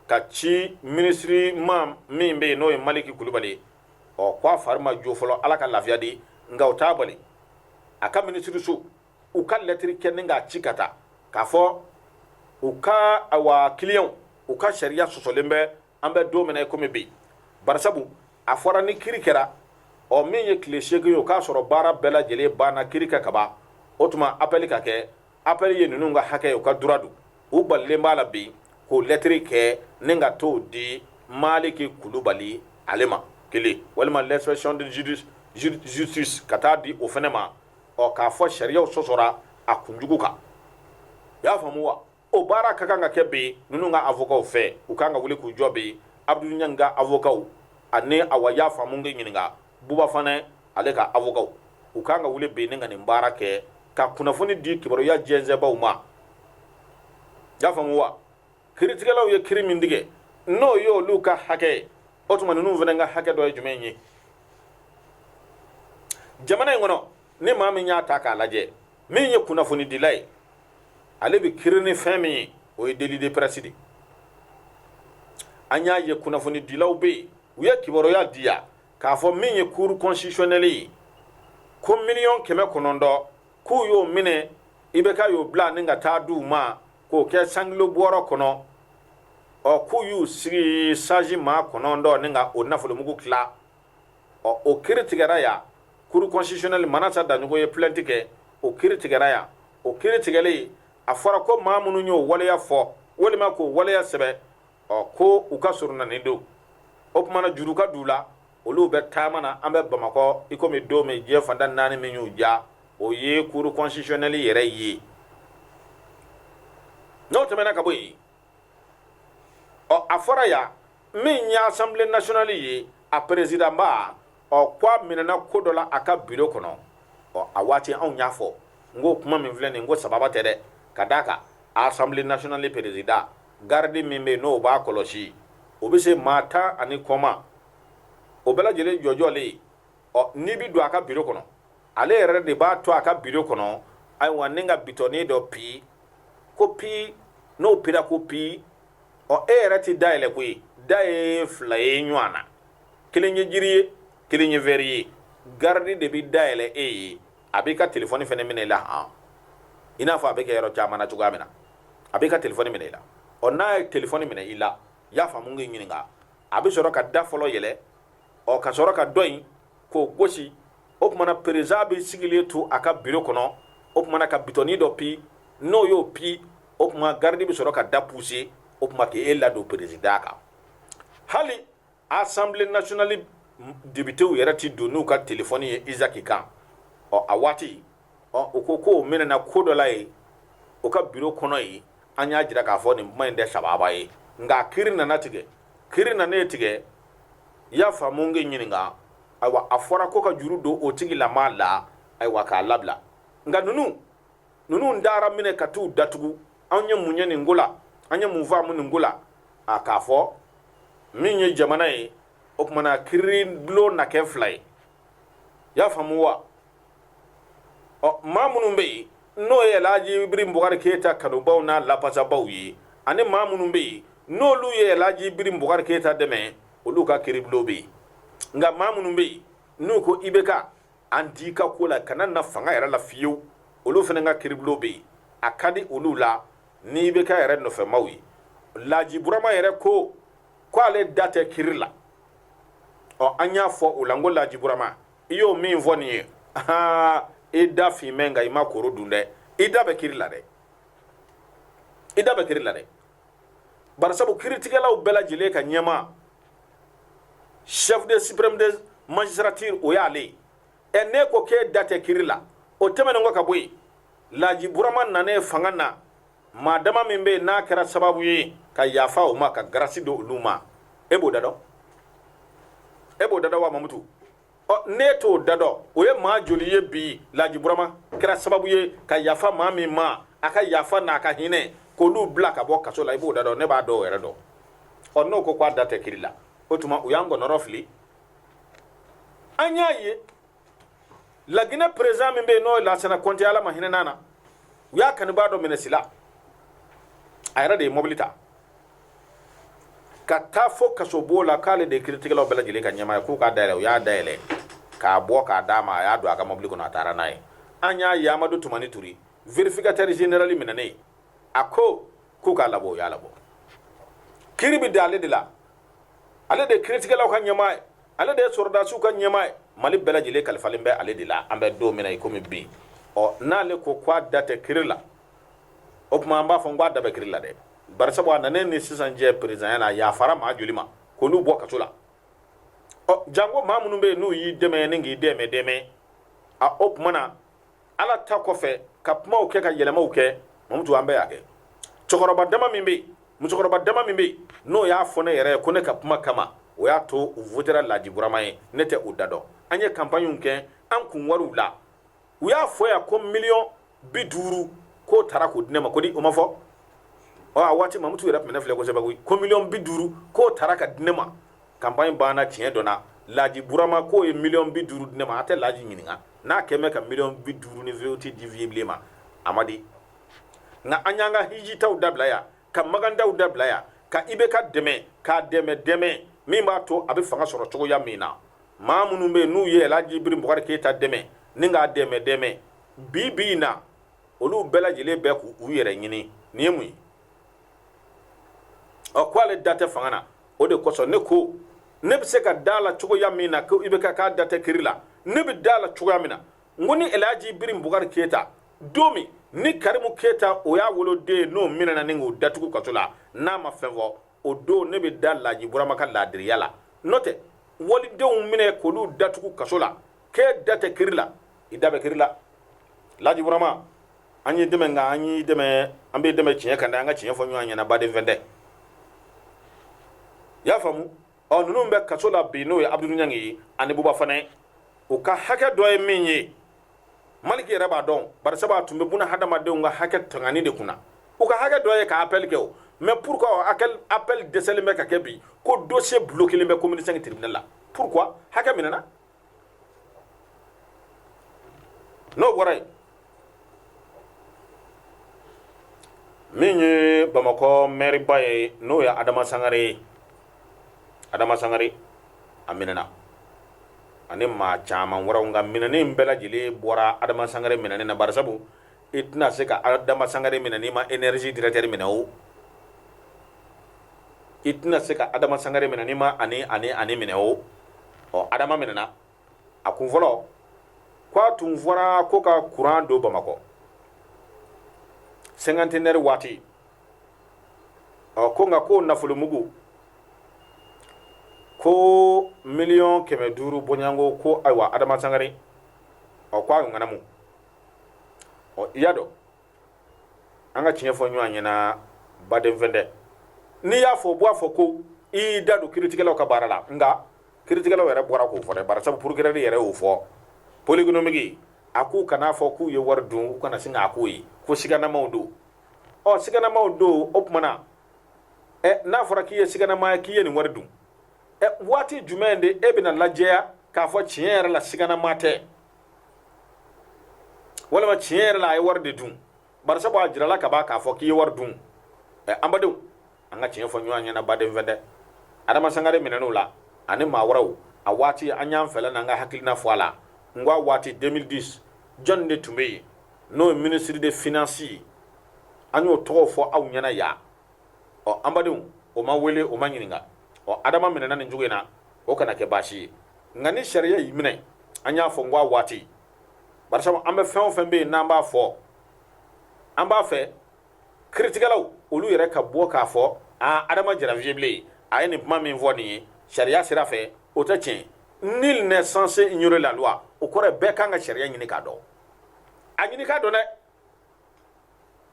[SPEAKER 1] k'a ci minisiri ma min bɛ yen n'o ye maliki kulubali ye ɔ k'a fari ma jo fɔlɔ ala ka lafiya di nka o t'a bali a ka minisiriso u ka lɛtiri kɛ ni k'a ci ka taa k'a fɔ u ka awa kiliyanw u ka sariya sɔsɔlen bɛ an bɛ don min na komi bi barisabu a fɔra ni kiri kɛra ɔ min ye tile seegin ye o k'a sɔrɔ baara bɛɛ lajɛlen banna kiri kan kaban o tuma apɛli ka kɛ apɛli ye ninnu ka hakɛ u ka droit don u balilen b'a la bi k'o lɛtiri kɛ ni ka t'o di maliki kulubali ale ma kelen walima l'inspection de justice ka taa di o fana ma ɔ k'a fɔ sariyaw sɔsɔra a kunjugu kan i y'a faamu wa o baara ka kan ka kɛ bi ninnu ka avokaw fɛ u kan ka wuli k'u jɔ bi abudulu ɲangi ka avokaw ani awa y'a faamu k'i ɲininka buba fanɛ ale ka avokaw u kan ka wuli bi ni ka nin baara kɛ ka kunnafoni di kibaruya jɛnsɛnbaw ma y'a faamu wa kiritigɛlaw ye kiri min tigɛ n'o ye olu ka hakɛ ye o tuma ninnu fana ka hakɛ dɔ ye jumɛn ye jamana in kɔnɔ ni maa min y'a ta k'a lajɛ min ye kunnafonidila ye ale bɛ kiri ni fɛn min ye o ye délit de presse de an y'a ye kunnafonidilaw bɛ yen u ye kibaruya di yan k'a fɔ min ye cour constitutionnelle ye ko miliyɔn kɛmɛ kɔnɔntɔn k'u y'o minɛ ibk y'o bila ni ka taa di u ma k'o kɛ cent kilos bɔrɔ kɔnɔ ɔ k'u y'u sigi sages maa kɔnɔntɔn ni ka o nafolomugu tila ɔ o kiri tigɛra yan cour constitutionnelle manasa daɲogo ye plainte kɛ o kiri tigɛra yan o kiri tigɛlen a fɔra ko maa minnu y'o waleya fɔ walima k'o waleya sɛbɛn ɔ ko u ka surunani don o tumana juru ka d'u la olu bɛ taama na an bɛ bamakɔ i komi don min diɲɛ fanda naani min y'u ja o ye kuru kɔnsitisiyɔnɛli yɛrɛ ye n'o tɛmɛna ka bɔ yen ɔ a fɔra yan min ye asanbile nasiyɔnali ye a perezidanba ɔ ko a minɛna ko dɔ la a ka biro kɔnɔ ɔ a waati anw y'a fɔ n ko kuma min filɛ nin ko sababa tɛ dɛ ka d'a kan asanbile nasiyɔnali perezidan garidi min bɛ yen n'o b'a kɔlɔsi o bɛ se maa tan ani kɔ ma o bɛɛ lajɛlen jɔjɔlen ɔ n'i bɛ don a ka biro kɔnɔ ale yɛrɛ de b'a to a ka biro kɔnɔ ayiwa ni ka bitɔnin dɔ pi ko pi n'o pira ko pi ɔ e yɛrɛ ti da yɛlɛ koyi da ye fila ye ɲɔgɔn na kelen ye jiri ye kelen ye wɛri ye garidi de bɛ da yɛlɛ e ye a b'i ka telefɔni fɛnɛ minɛ i la han i n'a fɔ a bɛ kɛ yɔrɔ caman na cogoya min na a b'i ka telefɔni minɛ i la ɔ n'a ye telefɔni minɛ i la i y'a faamu k'i ɲininka a bɛ sɔrɔ ka da fɔlɔ yɛlɛ ɔ ka sɔrɔ ka dɔ in k'o gosi o tumana perezidan bɛ sigilen to a ka biro kɔnɔ o tumana ka bitɔni dɔ pi n'o y'o pi o tuma garidi bɛ sɔrɔ ka da puse o tuma k'e ladon perezidan kan hali Asanbile nasiyɔnali depitew yɛrɛ tɛ don n'u ka telefɔni ye Isaki kan ɔ a waati ɔ u ko k'o minɛna ko dɔ la yen o ka biro kɔnɔ yen an y'a jira k'a fɔ nin kuma in tɛ sababa ye nka kiiri nana tigɛ kiiri nanen tigɛ i y'a faamu k'i ɲininka ayiwa a fɔra ko ka juru don o tigilamaa la ayiwa k'a labila nka ninnu ninnu dara minɛ ka t'u datugu anw ye mun ye nin ko la an ye mun faamu nin ko la a k'a fɔ min ye jamana ye o tumana kiiribulon na kɛ fila ye y'a faamu wa ɔ maa minnu bɛ yen n'o ye Alhaji Ibrahim Bukari Keyita kanubaw n'a lapasabaw ye ani maa minnu bɛ yen n'olu ye Alhaji Ibrahim Bukari Keyita dɛmɛ olu ka kiiribulon bɛ yen nka maa minnu bɛ yen n'u ko IBK an t'i ka ko la kana na fanga yɛrɛ la fiyewu olu fana ka kiribulon bɛ yen a ka di olu la ni IBK yɛrɛ nɔfɛmaw ye laaji burama yɛrɛ ko ko ale da tɛ kiri la ɔ an y'a fɔ o la n ko laaji burama i y'o min fɔ nin ye aa i da finmɛ nka i ma koro dun dɛ i da bɛ kiri la dɛ i da bɛ kiri la dɛ barisabu kiritigɛlaw bɛɛ lajɛlen ka ɲɛma chef de supreme de magistrature o y'ale ye ɛ n'e ko k'e da tɛ kiri la o tɛmɛnen kɔ ka bɔ yen laji burama nanen fanga na maa dama min bɛ yen n'a kɛra sababu ye ka yafa o ma ka garasi don olu ma e b'o da dɔn e b'o da dɔn wa mamutu ɔ ne t'o da dɔn o ye maa joli ye bi laji burama kɛra sababu ye ka yafa maa min ma a ka yafa n'a ka hinɛ k'olu bila ka bɔ kaso la i b'o da dɔn ne b'a dɔw yɛrɛ dɔn ɔ n'o ko k'a da tɛ kiri la o tuma u y'an kɔnɔrɔfili an y'a ye laginɛ perezan min bɛ yen n'o ye lansana kɔnte ala ma hinɛ n'a na u y'a kanubaa dɔ minɛ sila a yɛrɛ de ye mɔbili ta ka taa fɔ kasobon la k'ale de ye kiritigɛlaw bɛɛ lajɛlen ka ɲɛmaa ye k'u k'a dayɛlɛ u y'a dayɛlɛ k'a bɔ k'a d'a ma a y'a don a ka mobili kɔnɔ a taara n'a ye an y'a ye amadu tumani ture vérificateur général minɛnen a ko k'u k'a labɔ u y'a labɔ kiri bɛ da ale de la ale de ye kiritigɛlaw ka ɲɛmaa ye ale de ye sɔrɔdasiw ka ɲɛmaa ye mali bɛɛ lajɛlen kalifalen bɛ ale de la an bɛ don min na i komi bi ɔ n'ale ko k'a da tɛ kiri la o tuma an b'a fɔ n k'a da bɛ kiri la dɛ bari sabu a nanen ni sisan cɛ perezanya la yafara maa joli ma k'olu bɔ kaso la ɔ janko maa minnu bɛ yen n'u y'i dɛmɛ ni k'i dɛmɛ dɛmɛ a o tuma na ala ta kɔfɛ ka kumaw kɛ ka yɛlɛmaw kɛ mamutu an bɛɛ y'a kɛ cɛkɔrɔba dama min bɛ yen musokɔrɔba dama min bɛ yen n'o y'a fɔ ne yɛrɛ ye ko ne ka kuma kama o y'a to u votera laji burama ye ne tɛ o da dɔn an ye kanpaniw kɛ an kun wariw la u y'a fɔ yan ko miliyɔn bi duuru k'o taara k'o di ne ma ko di o ma fɔ ɔ a waati mamutu yɛrɛ tun bɛ ne filɛ kosɛbɛ koyi ko miliyɔn bi duuru k'o taara ka di ne ma kanpaɲi banna tiɲɛ dɔ la laji burama k'o ye miliyɔn bi duuru di ne ma a tɛ laji ɲininka n'a kɛn bɛ ka miliyɔn bi duuru ni V8 di viye bilen ma a ma di nka an y'an ka hijitaaw dabila yan ka makantaaw dabila yan ka IBK dɛmɛ k'a dɛmɛ dɛmɛ min b'a to a bɛ fanga sɔrɔ cogoya min na maa minnu bɛ n'u ye Alhaji Ibiri Bukari Keyita dɛmɛ ni k'a dɛmɛ dɛmɛ bi bi in na olu bɛɛ lajɛlen bɛ k'u yɛrɛ ɲini nin ye mun ye ɔ ko ale da tɛ fanga na o de kosɔn ne ko ne bɛ se ka da a la cogoya min na ko IBK k'a da tɛ kiri la ne bɛ da a la cogoya min na n ko ni Alhaji Ibiri Bukari Keyita don min ni Karimu Keyita o y'a woloden ye n'o minɛna ni k'o datugu kaso la n'a ma fɛn fɔ o don ne bɛ da laaji burama ka laadiriya la n'o tɛ walidenw minɛ k'olu datugu kaso la k'e da tɛ kiri la i da bɛ kiri la laaji burama an y'i dɛmɛ nka an y'i dɛmɛ an b'i dɛmɛ tiɲɛ kan dɛ an ka tiɲɛ fɔ ɲɔgɔn ɲɛna baden fɛn tɛ i y'a faamu ɔ ninnu bɛ kaso la bi n'o ye abudul ɲangi ye ani buba fane u ka hakɛ dɔ ye min ye maliki yɛrɛ b'a dɔn bari sabu a tun bɛ buna hadamadenw ka hakɛ tangani de kunna u ka hakɛ dɔ ye ka appel kɛ o mais pourquoi appel appel dɛsɛlen bɛ ka kɛ bi ko dossier bloquelen bɛ commune 5 tribunal la pourquoi hakɛ minɛna n'o bɔra yen min ye bamakɔ mɛriba ye n'o ye adama sangare ye adama sangare a minɛna ani maa caman wɛrɛw nka minɛnen bɛɛ lajɛlen bɔra adama sangare minɛnen na barisabu i tɛna se ka adama sangare minɛ n'i ma énergie directeur minɛ o i tɛna se ka adama sangare minɛ n'i ma ani ani ani minɛ o ɔ adama minɛna a kun fɔlɔ ko a tun fɔra ko ka kuran don bamakɔ cinquantenaire waati ɔ ko nka k'o nafolomugu ko miliyɔn kɛmɛ duuru bɔɲɔgɔnko ko ayiwa adama sangare ɔ ko a ŋanamu ɔ i y'a dɔn an ka tiɲɛ fɔ ɲɔgɔn ɲɛna baden fɛn tɛ n'i y'a fɔ u b'a fɔ ko i y'i da don kiritigɛlaw ka baara la nka kiritigɛlaw yɛrɛ bɔra k'o fɔ dɛ barisabu procureur yɛrɛ y'o fɔ pôle économique a k'u kan'a fɔ k'u ye wari dun u kana sin k'a k'u ye ko siganamaw don ɔ siganamaw don o tuma na ɛ n'a fɔra k'i ye siganama ye k'i ye nin wari dun ɛ waati jumɛn de e bɛna lajɛya k'a fɔ tiɲɛ yɛrɛ la siganama tɛ walima tiɲɛ yɛrɛ la a ye wari de dun barisabu a jirala kaban k'a fɔ k'i ye wari dun ɛ an badenw an ka tiɲɛ fɔ ɲɔgɔn ɲɛna baden fɛn dɛ adama sangare minɛn'o la ani maa wɛrɛw a waati an y'an fɛla n'an ka hakilina fɔ a la n ko a waati 2010 jɔnni de tun bɛ yen n'o ye ministre des finances ye an y'o tɔgɔ fɔ aw ɲɛna yan ɔ an badenw o ma wele o ma ɲininka ɔ adama minɛna nin cogo in na o kana kɛ baasi ye nka ni sariya y'i minɛ an y'a fɔ n ko a waati barisabu an bɛ fɛn o fɛn bɛ yen n'an b'a fɔ an b'a fɛ kiritigɛlaw olu yɛrɛ ka bɔ k'a fɔ aa adama jara vieux blen a ye nin kuma min fɔ nin ye sariya sira fɛ o tɛ tiɲɛ nul n'est censé ignorer la loi o kɔrɔ bɛɛ kan ka sariya ɲini k'a dɔn a ɲini k'a dɔn dɛ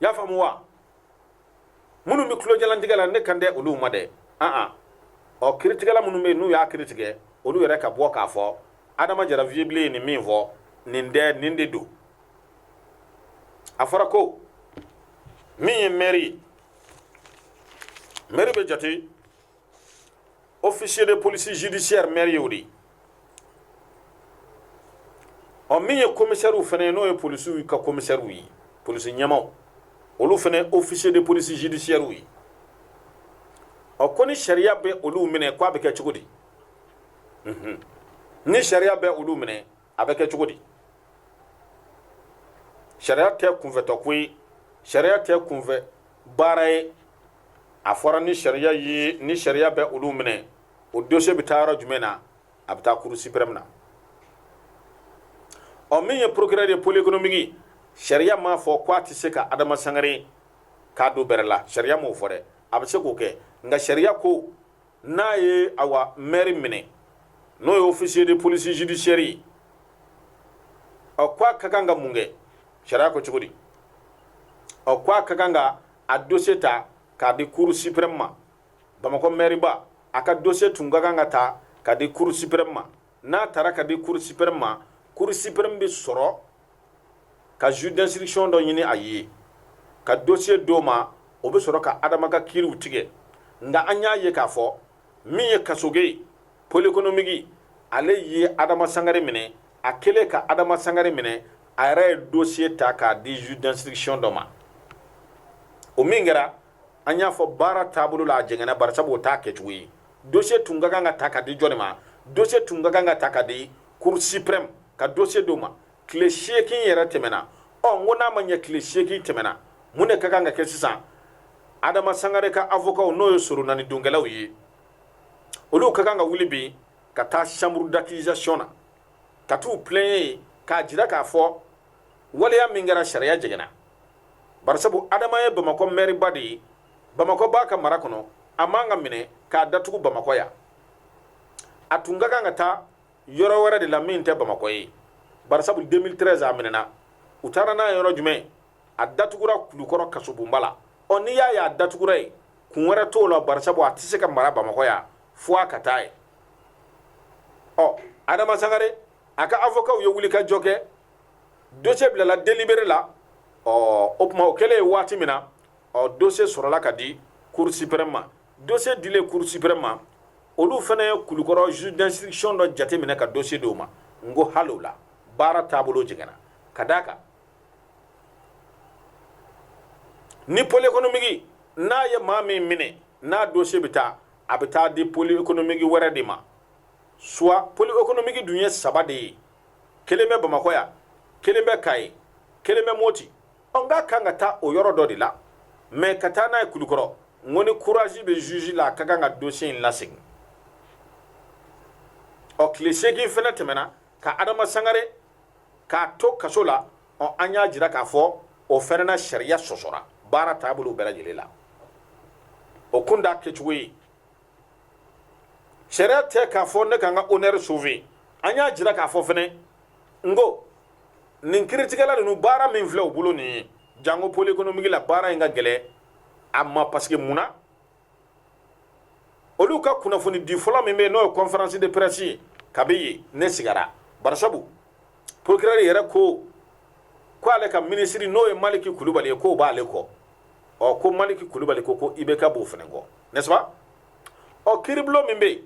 [SPEAKER 1] y'a faamu wa minnu bɛ tulojalantigɛ la ne kan tɛ olu ma dɛ an an ɔ kiritigɛla minnu bɛ yen n'u y'a kiri tigɛ olu yɛrɛ ka bɔ k'a fɔ adama jara vieux blen ye nin min fɔ nin tɛ nin de don a fɔra ko min ye mɛri ye mɛri bɛ jate officier de police judiciaire maire y'o de ye ɔ min ye komisɛriw fana ye n'o ye polisiw ka komisɛriw ye polisi ɲɛmaaw olu fana ye officier de police judiciaire ye ɔ ko ni sariya bɛ olu minɛ k'a bɛ kɛ cogo di ni sariya bɛ olu minɛ a bɛ kɛ cogo di sariya tɛ kunfɛtɔ ko ye sariya tɛ kunfɛ baara ye a fɔra ni sariya ye ni sariya bɛ olu minɛ o dossier bɛ taa yɔrɔ jumɛn na a bɛ taa cour suprême na ɔ min ye procureur de pôle économique sariya m'a fɔ ko a tɛ se ka adama sangare k'a don bɛrɛ la sariya m'o fɔ dɛ a bɛ se k'o kɛ nka sariya ko n'a ye awa mɛri minɛ n'o ye officier de police judiciaire ye ɔ ko a ka kan ka mun kɛ sariya ko cogo di ɔ ko a ka kan ka a dossier ta k'a di cour suprême ma bamakɔ mɛriba a ka dossier tun ka kan ka ta k'a di cour suprême ma n'a tara ka di cour suprême ma cour suprême bɛ sɔrɔ ka juge d'instruction dɔ ɲini a ye ka dossier d'o ma o bɛ sɔrɔ ka adama ka kiiriw tigɛ nka an y'a ye k'a fɔ min ye kasoge ye pôle économique ale ye adama sangare minɛ a kɛlen ka adama sangare minɛ a yɛrɛ ye dossier ta k'a di juge d'instruction dɔ ma o min kɛra an y'a fɔ baara taabolo la a jɛngɛnna bari sabu o t'a kɛcogo ye dossier tun ka kan ka ta ka di jɔni ma dossier tun ka kan ka ta ka di cour suprême ka dossier d'o ma tile seegin yɛrɛ tɛmɛna ɔ n ko n'a ma ɲɛ tile seegin tɛmɛna mun de ka kan ka kɛ sisan adama sangare ka avocatw n'o ye soronani donkɛlaw ye olu ka kan ka wuli bi ka taa chambre d'accusation na ka t'u plaigner yen k'a jira k'a fɔ waleya min kɛra sariya jɛngɛnna barisabu adama ye bamakɔ mɛriba de ye bamakɔ b'a ka mara kɔnɔ a man ka minɛ k'a datugu bamakɔ yan a tun ka kan ka taa yɔrɔ wɛrɛ de la min tɛ bamakɔ ye barisabu 2013 a minɛna u taara n'a ye yɔrɔ jumɛn a datugura kulukɔrɔ kasobonba la ɔ n'i y'a ye a datugura yen kun wɛrɛ t'o la barisabu a tɛ se ka mara bamakɔ yan fo a ka taa yen ɔ adama sangare a ka avocatw ye wulikajɔ kɛ dossier bilala délibéré la ɔ o tuma o kɛlen ye waati min na ɔ dossier sɔrɔla ka di cour suprême ma dossier dilen cour suprême ma olu fana ye kulukɔrɔ juge d'instruction dɔ jateminɛ ka dossier di o ma n ko hali o la baara taabolo jɛngɛnna ka d'a kan ni pôle économique n'a ye maa min minɛ n'a dossier bɛ taa a bɛ taa di pôle économique wɛrɛ de ma soit pôle économique dun ye saba de ye kelen bɛ bamakɔ yan kelen bɛ kayi kelen bɛ moti ɔ ka kan ka taa o yɔrɔ dɔ de la mais ka taa n'a ye kulukɔrɔ n ko ni courage bɛ juge la a ka kan ka dossier in lasegin ɔ tile seegin fana tɛmɛna ka adama sangare k'a to kaso la ɔ an y'a jira k'a fɔ o fana na sariya sɔsɔra baara taabolo bɛɛ lajɛlen la o kun t'a kɛcogo ye sariya tɛ k'a fɔ ne ka n ka honneur sauver an y'a jira k'a fɔ fɛnɛ n ko nin kiiritigɛla ninnu baara min filɛ u bolo nin ye janko pôle économique la baara in ka gɛlɛ a ma parce que mun na olu ka kunnafoni di fɔlɔ min bɛ yen n'o ye conférence de presse ye kabi yen ne sigara barisabu procureur yɛrɛ ko ko ale ka minisiri n'o ye maliki kulubali ye k'o b'ale kɔ ɔ ko maliki kulubali ko ko IBK b'o fana kɔ n'est-ce pas ɔ kiiribulon min bɛ yen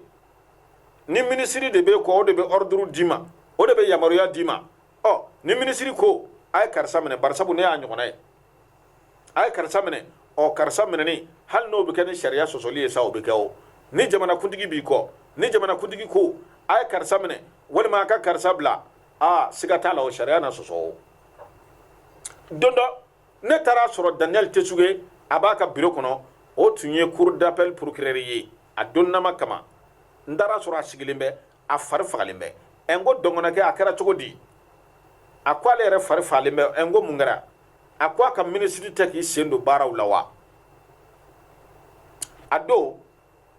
[SPEAKER 1] ni minisiri de b'i kɔ o de bɛ ɔriduru d'i ma o de bɛ yamaruya d'i ma ɔ ni minisiri ko a ye karisa minɛ barisabu ne y'a ɲɔgɔnna ye a ye karisa minɛ ɔ karisa minɛni hali n'o bɛ kɛ ni sariya sɔsɔli ye sa o bɛ kɛ o ni jamanakuntigi b'i kɔ ni jamanakuntigi ko a ye karisa minɛ walima a ka karisa bila aa siga t'a la o sariya na sɔsɔ o don dɔ ne taar'a sɔrɔ daniel tesuge a b'a ka biro kɔnɔ o tun ye cour d'appel procureur ye a donnama kama n taar'a sɔrɔ a sigilen bɛ a fari fagalen bɛ ɛ n ko dɔngɔnɔkɛ a kɛra cogo di a ko ale yɛrɛ fari fagalen bɛ ɛ n ko mun kɛra a ko a ka minisiri tɛ k'i sen don baaraw la wa a don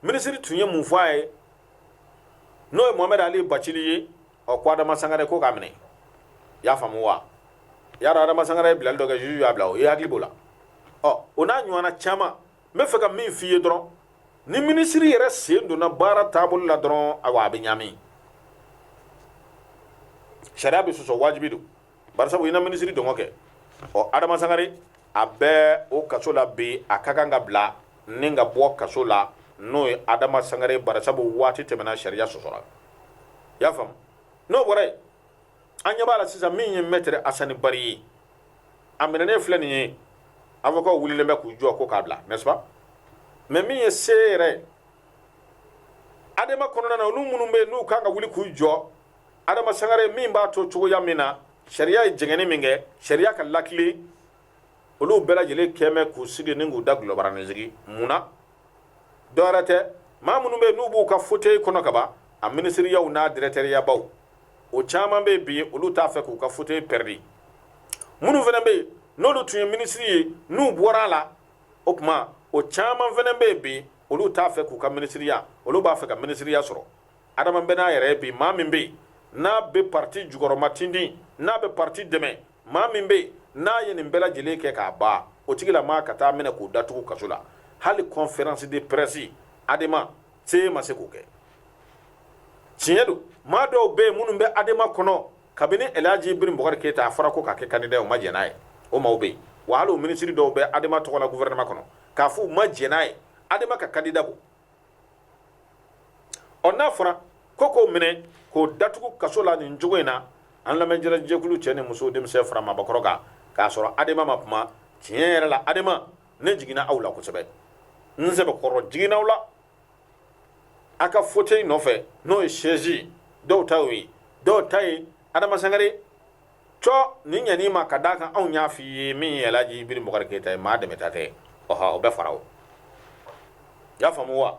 [SPEAKER 1] minisiri tun ye mun fɔ a ye n'o ye mohamɛdi ali bacili ye ɔ ko adama sangare ko k'a minɛ y'a faamu wa y'a dɔn adama sangare ye bilali dɔ kɛ juge y'a bila o i hakili b'o la ɔ o n'a ɲɔgɔnna caman n bɛ fɛ ka min f'i ye dɔrɔn ni minisiri yɛrɛ sen donna baara taabolo la dɔrɔn awa a bɛ ɲaami sariya bɛ sɔsɔ wajibi don barisabu i na minisiri dungɔ kɛ ɔ adama sangare a bɛ o kaso la bi a ka kan ka bila ni ka bɔ kaso la n'o ye adama sangare barasabu waati tɛmɛna sariya sɔsɔra i y'a faamu n'o bɔra yen an ɲɛ b'a la sisan min ye mɛtɛrɛ asani bari ye a minɛnen filɛ nin ye avocatw wulilen bɛ k'u jɔ ko k'a bila n'est-ce pas mais min ye se yɛrɛ adema kɔnɔna na olu minnu bɛ n'u kan ka wuli k'u jɔ adama sangare ye min b'a to cogoya min na sariya ye jɛngɛni min kɛ sariya ka latilen olu bɛɛ lajɛlen kɛmɛ k'u sigi ni k'u dagolobaranin sigi mun na dɔwɛrɛ tɛ maa minnu bɛ n'u b'u ka fauteuil kɔnɔ ka ban a minisiriyaw n'a dirɛkitɛriyabaw o caman bɛ bi olu t'a fɛ k'u ka fauteuil pɛridi minnu fana bɛ yen n'olu tun ye minisiri ye n'u bɔra a la o tuma o caman fana bɛ yen bi olu t'a fɛ k'u ka minisiriya olu b'a fɛ ka minisiriya sɔrɔ adama bɛ n'a yɛrɛ ye bi maa min bɛ yen n'a bɛ parti jukɔrɔmatintin n'a bɛ parti dɛmɛ maa min bɛ n'a ye nin bɛɛ lajɛlen kɛ k'a ban o tigilamaa ka taa minɛ k'o datugu kaso la hali kɔnferansi de pɛrɛsi adema seye ma se k'o kɛ tiɲɛ don maa dɔw bɛ yen minnu bɛ adema kɔnɔ kabini elhaji ibrahim bubakari keyita a fɔra k'o ka kɛ kandida ye u ma jɛn n'a ye o maaw bɛ yen wa hali o minisiri dɔw bɛ adema tɔgɔ la guvɛrɛnɛma kɔnɔ k'a fɔ u ma jɛn n'a ye adema ka kandida bɔ ɔ n'a fɔra ko k'o minɛ k'o datugu kaso la nin cogo in na an lamɛnjɛrɛ jɛkulu cɛ ni muso denmisɛn fara maabakɔrɔ kan k'a sɔrɔ adama ma kuma tiɲɛ yɛrɛ la adama ne jiginna aw la kosɛbɛ n sɛbɛkɔrɔ jiginna aw la a ka fauteuil nɔfɛ n'o ye sɛzi dɔw ta ye dɔw ta ye adama sangare to nin ɲani ma ka d'a kan anw y'a fɔ i ye min ye ɛlaji ibrahim bubakar keyita ye maa dɛmɛta tɛ ɔ o bɛ fara o y'a faamu wa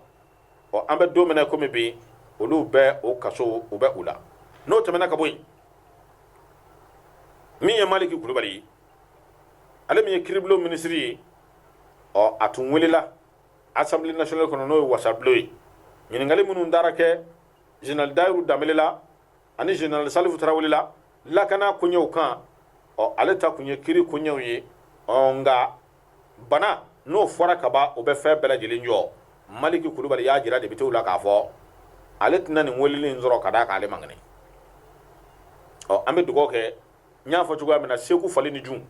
[SPEAKER 1] ɔ an bɛ don min na kɔmi bi olu bɛ o kaso u bɛ u la n'o tɛmɛna ka bɔ yen min ye maliki kulubali ye ale min ye kiribulon minisiri ye ɔ a tun welela assemblée nationale kɔnɔ n'o ye wasabulon ye ɲininkali minnu taara kɛ général dayiru danbele la ani général salifu tarawele la lakana koɲɛw kan ɔ ale ta kun ye kiri koɲɛw ye ɔ nka bana n'o fɔra kaba o bɛ fɛn bɛɛ lajɛlen jɔ maliki kulubali y'a jira depitew la k'a fɔ ale tɛna nin weleli in sɔrɔ ka d'a kan ale man kɛnɛ ɔ an bɛ dugawu kɛ n y'a fɔ cogoya min na segu fali ni jun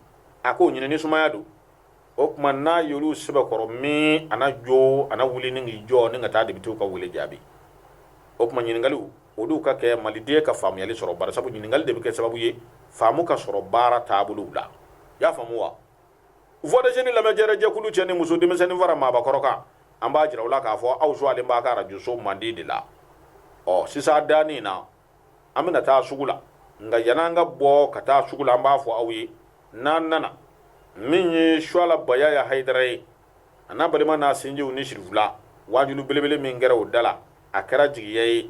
[SPEAKER 1] a k'o ɲinɛ ni sumaya don o tuma n'a y'olu sɛbɛkɔrɔ min a na jɔ a na wuli ni k'i jɔ ni ka taa depitew ka wele jaabi o tuma ɲininkaliw olu ka kɛ maliden ka faamuyali sɔrɔ bari sabu ɲininkali de bɛ kɛ sababu ye faamu ka sɔrɔ baara taabolow la i y'a faamu wa voix des jeunes lamɛnjɛrɛ jɛkulu cɛ ni muso denmisɛnnin fara maabakɔrɔ kan an b'a jira u la k'a fɔ aw suwalen b'a ka arajoso mandi de la ɔ sisan danni na an bɛna taa sugu la nka yan'an ka bɔ ka taa sugu la an b'a fɔ aw ye n'an nana min ye suwala bayaya hayidara ye a n'a balima n'a sinjiw ni sirifila wajulu belebele min kɛra o da la a kɛra jigiya ye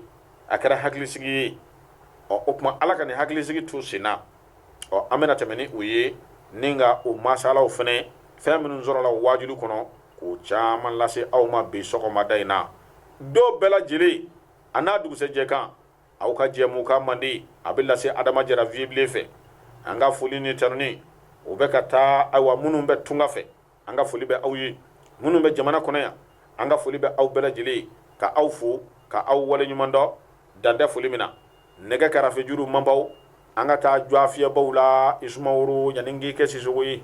[SPEAKER 1] a kɛra hakilisigi ye ɔ o tuma ala ka nin hakilisigi to senna ɔ an bɛna tɛmɛ ni o ye ni ka o masalaw fana fɛn minnu sɔrɔla wajulu kɔnɔ k'o caman lase aw ma bi sɔgɔmada in na don bɛɛ lajɛlen a n'a dugusɛjɛ kan aw ka jɛmukan mandi a bɛ lase adama jara vieux bilen fɛ an ka foli ni tanuni o bɛ ka taa ayiwa minnu bɛ tunga fɛ an ka foli bɛ aw ye minnu bɛ jamana kɔnɔ yan an ka foli bɛ aw bɛɛ lajɛlen ye ka aw fo ka aw waleɲumandɔn dan tɛ foli min na nɛgɛ karafejuru manbaw an ka taa jɔ fiyɛbaw la i sumaworo yanni k'i kɛ sisɔkɔ ye